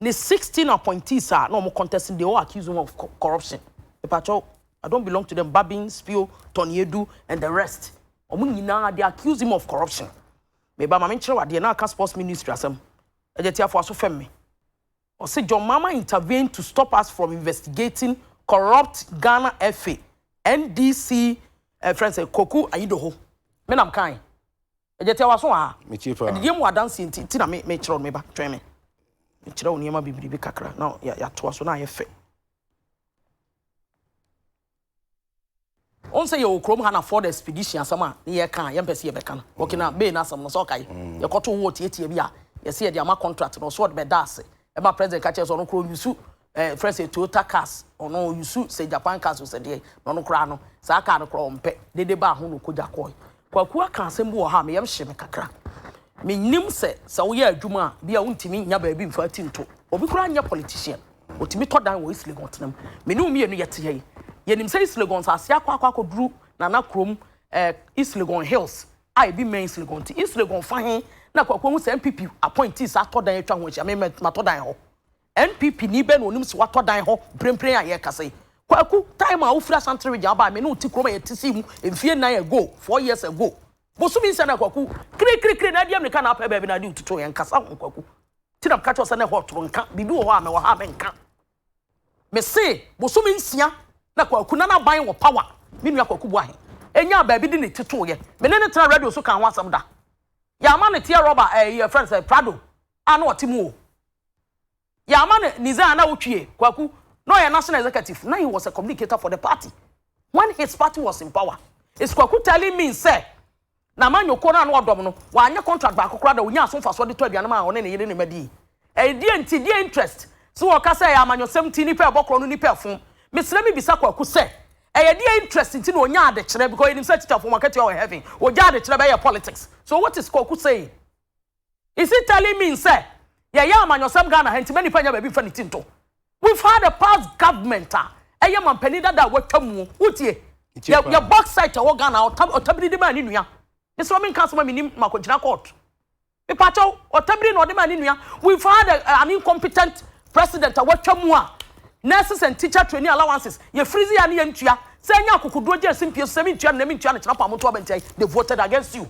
B: ne sixteen appointees a na wɔn contest they all accuse him of corruption mepatwɛw I don't belong to them Babin Spio Tɔniedu and the rest wɔn nyinaa they accuse him of corruption meba maame nkyerɛw adeɛ na aka sports ministry asɛm ɛgye tiafo aso fɛm me ɔsi John Mama intervened to stop us from investigating corrupt Ghana FA NDC uh, friends uh, Koku Ayidoho menam kan Agya tia w'aso aa. Metie paa. Adidie mu adanseɛ nti nti na me me kyerɛ wo no me ba twɛn me. Me kyerɛ wo nneɛma bebiribi kakra na ya yatoa so na ayɛ fɛ. Wɔn sɛ yɛwɔ kurom ha na Ford Expedition asɛm a ne yɛka a yɛmpɛ sɛ yɛbɛka no Burkina Bay no asɛm no sɛ ɔkae yɛkɔto wɔ tiatia bi a yɛsɛ yɛde ama contract no ɔsɛ ɔde bɛda ase ɛma president ka kyerɛ sɛ ɔno koraa ɔnyusu Eh frɛ sɛ Toyota cars ɔno ɔyusu sɛ Japan cars o sɛ deɛ na ɔno koraa no saa car no koraa ɔmpɛ dede baa ho na ɔkɔgya kɔɔe. Kwaku aka asɛm bi wɔ ha a me yam hye me kakra. Menim sɛ sɛ woyɛ adwuma a bi a wontumi nnya baabi mfa ti nto. Obi koraa nyɛ politician ɔtumi tɔ dan wɔ East Legon tena mu. Me ne wo mmienu yɛte ha yi yɛnim sɛ East Legon nsase akɔ akɔ akɔduru Nana kurom eh East Legon hills a ebi mmɛn East Legon nti East Legon fa he na Kwaku ahu sɛ NPP appointees atɔ dan atwa ho ahyia me matɔ dan hɔ. NPP ni bɛn na ɔnim sɛ watɔ dan hɔ mprempren a yɛrekasa yi? Kwaku, time a wofiri Asante region aba a me ne wo te kurom a yɛte sii mu mfeɛ nnan ago, four years ago. Bosome nsia na Kwaku, kirikirikiri na adi amirika na apɛ baabi na ade retutu yɛn nkasa ho Kwaku. Nti na meka kyerɛ wo sɛ na ɛhɔ toro nka, biribi wɔ hɔ a mewɔ ha a menka. Mese bosome nsia na Kwaku na n'aban wɔ power, me nua Kwaku Boahe. Ɛnyaa baabi de ne ti tooeɛ. Me ne no tena radio so kaa ho asɛm da. Yɛama no teɛ rɔba, ɛɛ, yɛfrɛ no sɛ Prado a na ɔte mu o. Yɛama no ne dzin a na otwie, Kwaku, na ɔyɛ national executive na he was a communicator for the party when his party was in power. Is Kwaku telling me sɛ n'amanyɔkuo no a na ɔdɔm no, wanyɛ contract baako koraa da onyaa so mfasoɔ de tɔ aduane maa ɔne ne yere ne mma dii? Ɛyɛ deɛ nti, deɛ interest? Sɛ wɔka sɛ ɛyɛ amanyɔsɛm nti nnipa ɛbɔ korɔ no nnipa ɛfom. Mesrɛ mebisa Kwaku sɛ, ɛyɛ deɛ interest nti na ɔnyaa adekyerɛ because yɛnim sɛ atikyafoɔ wɔn akatua wɔ heaven, ɔgyaa adekyerɛ bɛyɛɛ politics. So what is Kwaku saying? Is it telling me sɛ yɛyɛ amanyɔsɛm Ghana ha nti ma nipa nya baabi nfa ne ti nto? We've had a past government a ɛyɛ manpanin dada a watwa muo. Wotie? Yɛ yɛ box site ɛwɔ Ghana ɔta ɔtabiri de maa ne nua. Mesrɛ wo menka asɛm a menim makɔgyina court. Mepakyɛw ɔtabiri na ɔde maa ne nua. We've had a, an incompetent president a watwa mu a nurses and teacher training allowances yɛ freeze yɛ a ne yɛntua. Sɛ ɛnyɛ akokoduo gye asimpie so sɛ mentua no na mentua no kyerɛ paa moto abɛntiae they voted against you.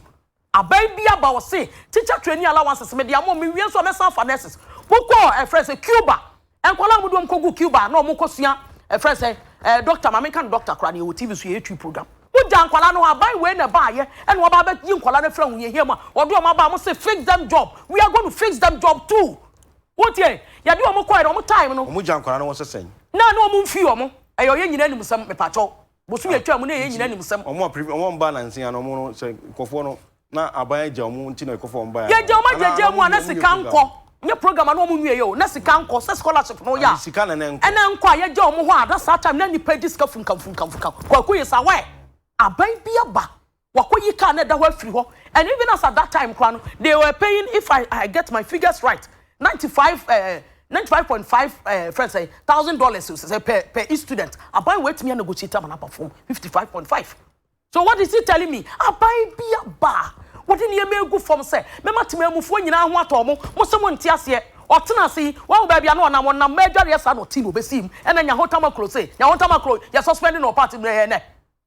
B: Aber bi aba ɔse teacher trainee allowances mede ama wo mewie nso a mɛsan afa nurses. Mokɔɔ ɛfrɛ no sɛ Cuba. Nkwadaa a wɔde wɔn kɔguu Cuba a na wɔkɔsua ɛfrɛ no sɛ eh, doctor ma menka no doctor koraa na yɛwɔ TV so yɛyɛ twi program. Mogyaa nkwadaa no hɔ. Aban wei na ɛbaeɛ na wɔaba abɛyi nkwadaa no afiri ahohiahia mu a wɔde wɔn aba a wɔse fix them job. We are going to fix them job too. Wotie? Yɛde wɔn kɔeɛ no wɔn time no. Wɔgyaa nkwadaa no hɔ sɛ sɛn?
A: Na ne wɔn mfii wɔn.
B: Ɛyɛ ɔyɛ nyinaa anim nsɛm. Mepaakyɛw. Bosome a atwaa mu na ɛyɛ nyina nim sɛm. Ɔmo a previ ɔmo mba nansia
A: no ɔmo no sɛ nkɔfoɔ no na aban agya ɔmo nti na ɛkɔfa ɔmo baeɛ. Yɛgya ɔmo agyagyaa mu a
B: na sika nkɔ nyɛ program a na ɔmo nwieɛ o na sika nkɔ sɛ scholarship no yɛ a sika na na nkɔ. Ɛna nkɔ
A: a yɛgya ɔmo hɔ
B: a na saa time na nnipa di sika funkamfunkamfunka kwaku yɛ saa why aban bi aba Wakoyi car no ɛda hɔ afiri hɔ and even as at that time koraa no they were paying if I I get my figures right ninety five eh, ninety five point five eh, friend sɛ thousand dollars o sɛ per per each student aban wɔ atumi anegotiate ama no aba fam fifty five point five so what is he telling me aban bi aba a wɔde nneɛma egu fam sɛ mɛma temamufoɔ nyinaa ho atɔ mo mo sɛ mo nte aseɛ ɔtena ase yi wɔn baabi ano ɔnam ɔnam mɛ adwareɛ saa na ɔte na ɔbɛsi mu ɛna nyahotamakuro se nyahotamakuro yɛ suspending ɔpaati mmerɛ yɛ nɛ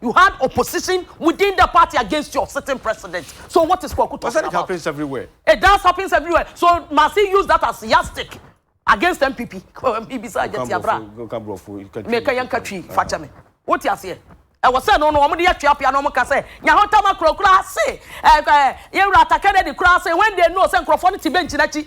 B: You had opposition within the party against your sitting president so what is Kwaku talking about? But that happens everywhere. It
A: does happens everywhere
B: so must he use that as yardstick against NPP? Ibisa ajati abra. Meka yɛn ka twi fa kyɛ me. Wote aseɛ? Ɛwɔ sɛ no no wɔn de yɛ tweapea na wɔn ka sɛ nyahotama kura kura ase ɛɛ yɛwura ata Kennedy kura ase when they know sɛ nkurɔfoɔ no te bench n'akyi.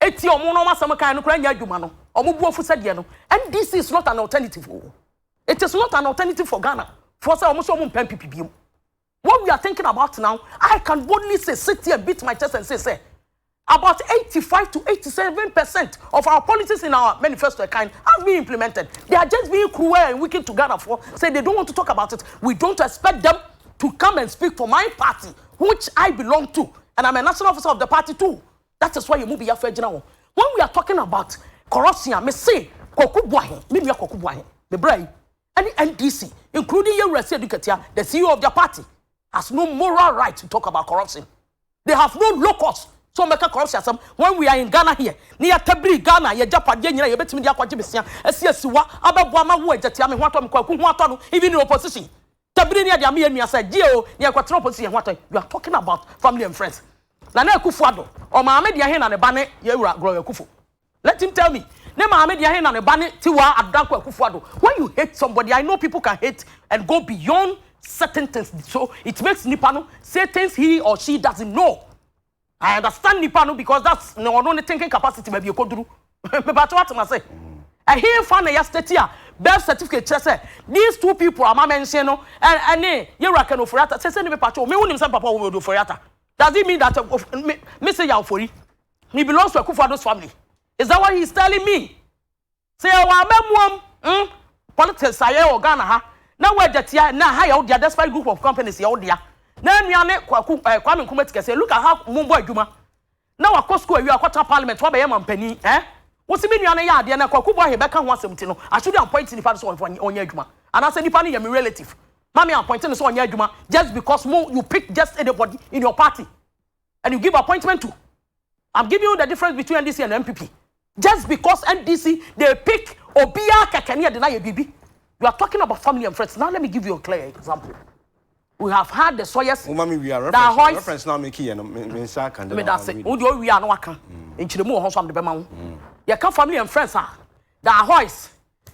B: Etie ɔmo na ɔmo asɛm kan no koraa nyɛ adwuma no ɔmo bu afu sɛ deɛ no NDC is not an alternative o it is not an alternative for Ghana foɔ sɛ ɔmo sɛ ɔmo mpɛ NPP biem what we are thinking about now I can boldly say sit here and beat my chest and say sɛ about 85 to 87 percent of our policies in our manifesto account have been implemented. They are just being cruel and wicked to Ghana for say they don't want to talk about it. We don't expect them to come and speak for my party, which I belong to, and I'm a national officer of the party too. That is why yɛn mu biafra agyina hɔ. When we are talking about corruption a, me se Kwaku Boahen, me nua Kwaku Boahen, me bra yi, ɛne NDC, including Yewura Seidu Katia, the CEO of their party, has no moral right to talk about corruption. They have no locus. So mɛka corruption asɛm when we are in Ghana here. Ne yɛtabiri Ghana, yɛgyapadeɛ nyina yɛbɛtumi de akɔgye besia, asi asiwa, abɛboa ma wo agyatia me ho atɔ me kwaku ho atɔ no, even in opposition. Tabiri ni ɛde ama yɛn nua sɛ gye o nea ɛkɔ tena opposition yɛn ho atɔ you are talking about family and friends Nana Akufo Addo ɔmaame deɛ he na ne ba ne Yawura Gloria Akufo let him tell me ne maame deɛ he na ne ba ne Tiwaa Adanko Akufo Addo when you hate somebody I know people can hate and go beyond certain things so it makes nipa no say things he or she doesn't know. I understand nipa no because that's ne ɔno ne thinking capacity baabi ekoduru. Mepatɔ ate ma se. Ɛhenfa na ya state a birth certificate kyerɛ sɛ these two people ama mention no ɛne yɛwura Ken Ofori-Atta sese ne mepatɔ me wonim sɛ papa Owode Ofori-Atta does it mean that me me se ya Ofori he belongs to Akufo-Addo's family is that what he is telling me Sɛ yɛwɔ amamuom mm politics a yɛwɔ Ghana ha na w'agya tia a, nnɛ ha yɛ wo dea despite group of companies yɛ wo dea. Na nua ne Kwaku eh, Kwame Nkrumah ti kɛseɛ, look at how mo bɔ adwuma. Na wakɔ school awie a wakɔ tena parliament wabɛyɛ mampanin eh. Wo se me nua no yɛ adeɛ na Kwaku Boahe bɛka ho asɛm nti no I shouldn't appoint nipa no sɛ ɔmfa ɔnyɛ adwuma. Anaasɛ nipa no yɛ me relative ma me appoint no sɛ ɔnyɛ adwuma just because mo you pick just anybody in your party. and you give appointment to I'm giving you the difference between NDC and MPP just because NDC they pick obia kakani deny a bibi you are talking about family and friends now let me give you a clear example we have had the sawyers Uma me we are reference, Dahois,
A: reference now make here no me me nsa kan me da se wo de owi
B: ano aka nkyeremu wɔ ho so am de bɛma wo yɛ ka family and friends a Dahois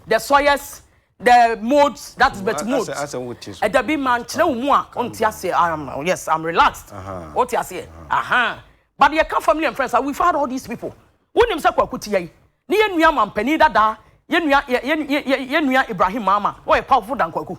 B: The soils, the modes, that is but modes. Asa asa wo ti so. Ɛda bi ma nkyerɛ wo mu a ɔnte aseɛ. I am yes, I'm relaxed. Wo te aseɛ. Aha. But yɛ ka family and friends. We've had all these people. Wo nim sɛ kwaku ti yɛ yi. Ne yɛ nua mampanin dadaa. Yɛ nua yɛ yɛ yɛ yɛ nua Ibrahim Mama. Ɔyɛ powerful than kwaku.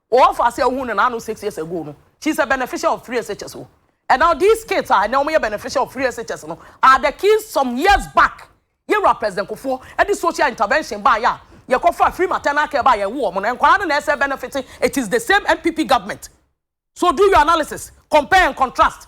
B: Wɔn fa ase a ohun ne na ano six years ago no she is a beneficial of three SHS o and now these kids a ɛnɛ wɔn yɛ beneficial of three SHS no are the kids some years back yɛ wura president kofoɔ ɛde social intervention baa yɛ a yɛ kɔ fa free maternal care baa yɛ wo wɔn no nkwadaa no na ɛsɛ benefit it is the same NPP government so do your analysis compare and contrast.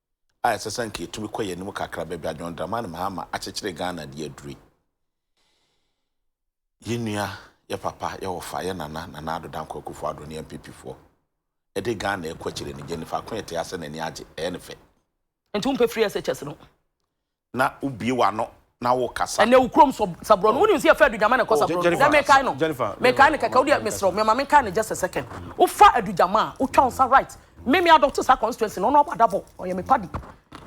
C: a ɛsɛ sɛ anka yɛtumi kɔ yɛn anim kakra, baabi a John Dramani Mahama akyekyere Ghana de aduru yi. Yɛn nua, yɛn papa, yɛn wɔfa, yɛn nana, Nana Addo Dankwa Akufo-Addo ne NPPfoɔ de Ghana rekɔ akyire no, Jennifer Akonya te ase na n'ani agye, ɛyɛ no fɛ. Nti wompɛ free
B: SHS no? na
C: wo bue w'ano na wo kasa. Ɛnɛ wo kurom so sa borɔ
B: no wo nim sɛ yɛ fɛ adugyama na ɛkɔ sa borɔ no sɛ me kae no me kae no kɛkɛ wo deɛ me serɛ me ma me kae no just a second wo fa adugyama a wo twa wo sa right me me adɔto sa constituency no ɔno ɔbɔ adabɔ ɔyɛ me padi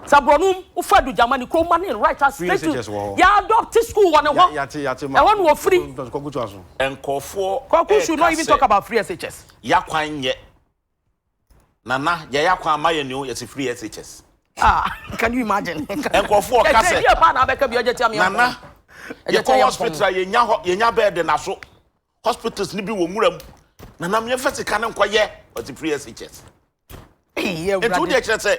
B: sa borɔ no wo fa adugyama ne kurom ma ne right a straight to yɛ adɔto school wɔ ne hɔ ɛhɔ no
A: wɔ firi
C: ɛnkɔfoɔ
B: ɛka sɛ yɛ kwan nyɛ
C: Nana yɛyɛ akwan ama yɛn ni o yɛsi free SHS. Ah, can you
B: imagine? Nkurɔfoɔ ɔka sɛ.
C: Ɛsɛ paa na abɛka bi ɔgye tia mi. Nana yɛkɔ hospital a yɛnya hɔ yɛnya bɛɛde na so hospitals ni bi wɔ nwura mu. Nana miɛnfa sika no nkɔyɛ ɔsi free SHS.
B: Nti wo deɛ kyerɛ sɛ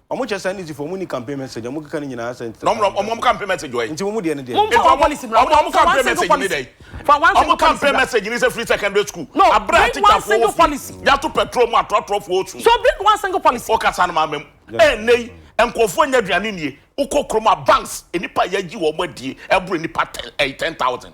B: Ɔmo kyɛ saa
A: nizifo ɔmo nni campaign message ɔmo keka ne nyinaa sɛ nti ɔmo ɔmo ɔmo campaign message
C: wɔ he. Nti ɔmo deɛ ne deɛn. Nti
A: ɔmo ɔmo ɔmo
B: campaign message
C: ne dɛn ɔmo campaign
B: message ne sɛ free
C: secondary school abrɛ a teacher foɔ wɔ
B: fie yato petrol mu ato
C: atorɔ foɔ osu wo
B: kasa no maame mu
C: ɛɛ nnɛ yi nkorɔfoɔ nya aduane nnie wo kɔ kurom a banks nnipa a yagyi wɔn adie ɛboro nnipa ten ɛɛ ten thousand.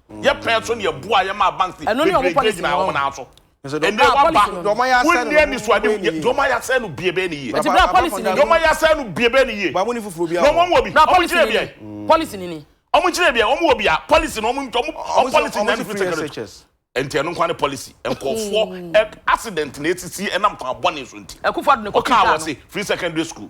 B: yɛ pɛn
C: so na yɛboa yɛ maa banks ne bebree gyina wɔn
B: nan so. Ɛnɛ
A: waba wonni
C: anisoadeɛ yɛ deɛ wɔn ayɛ asɛe no bie bɛyɛ ne yie. Ɛti bra policy ni. Deɛ wɔn ayɛ asɛe no bie bɛyɛ ne yie. Wɔn ni foforɔ bi a. Na wɔn wɔ bi. Bra policy
A: ni. Wɔn kyerɛ
C: bi yɛ. Policy
B: ni ni. Wɔn kyerɛ bi yɛ wɔn wɔ
C: bi a policy na wɔn wɔn policy na ne fi secretary. Nti
A: ɛno nkwa ne
C: policy. Nkɔfoɔ accident na esisi ɛnam kwan bɔne so nti. Ɛkufo ado ne kɔ kisa no. Ɔka awɔ se
B: free secondary
C: school.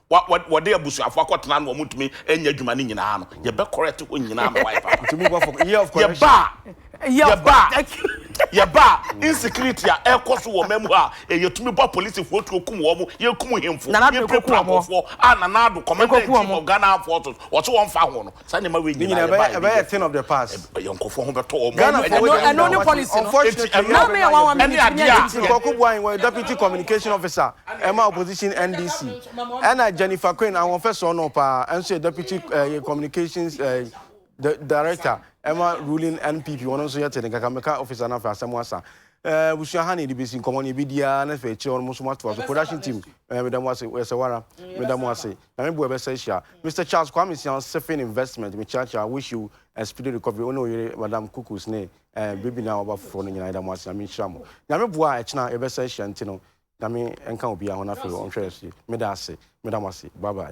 C: Wɔ wɔ wɔde abusuafo akɔtena na wɔntumi nyɛ adwuma no nyinaa no, yɛbɛ correct hɔ nyinaa ama wayɛ papa. Ntumi nkɔ for year of correction.
A: Yɛba a, Year of yɛba a, correction.
C: yɛba a, insecurity a ɛrekɔ so wɔ ɔman mu ha a, yɛ yɛtumi bɔ apolisifoɔ tuo kum wɔn, yɛkum hemfo, Nana Addo yɛpirapira kɔku wɔn. abɔfoɔ a Nana Addo, Commander in Ɛkɔku Chief wɔn. of Ghana Armed Forces, ɔse wɔmfa ho no. saa nneɛma wei nyinaa yɛ baa ɛbɛyɛ thing of the
A: past yɛn nkɔfoɔ ho bɛtɔ wɔn
C: Ghana for wɔn ɛno ne policy
B: no unfortunately ɛno ɛno yɛ
A: wɔn
B: ɛne adeɛ a nkɔko bu ayi wɔn
A: deputy communication officer ɛma opposition NDC ɛna Jennifer Quinn awon fɛ sɔɔ no paa ɛnso yɛ deputy ɛɛ eh, communications ɛɛ eh, the director ɛma ruling NPP wɔn nso yɛ te ne kaka mɛka officer n'afɛ asɛm asa ɛɛ busua ha na yɛde besi nkɔmɔ na ebi diara na fɛ akyire wɔn nso mo ato aso production team ɛɛ medamu ase ɛsɛ wara medamu ase. Nyame boa yɛbɛsan ahyia. Mister Charles Kwame Sian Sifin Investment mekyeakyea wish you a speedy recovery wo ne wo yere Madam Kukus ne eh baby no a waba foforɔ no nyinaa yɛda mo ase Nyame nhyira mo Nyame boa a ɛkyena yɛbɛsan ahyia nti no Nyame nka obiara ho na afei ɔnhwɛ yɛn so yie meda ase meda mo ase bye bye.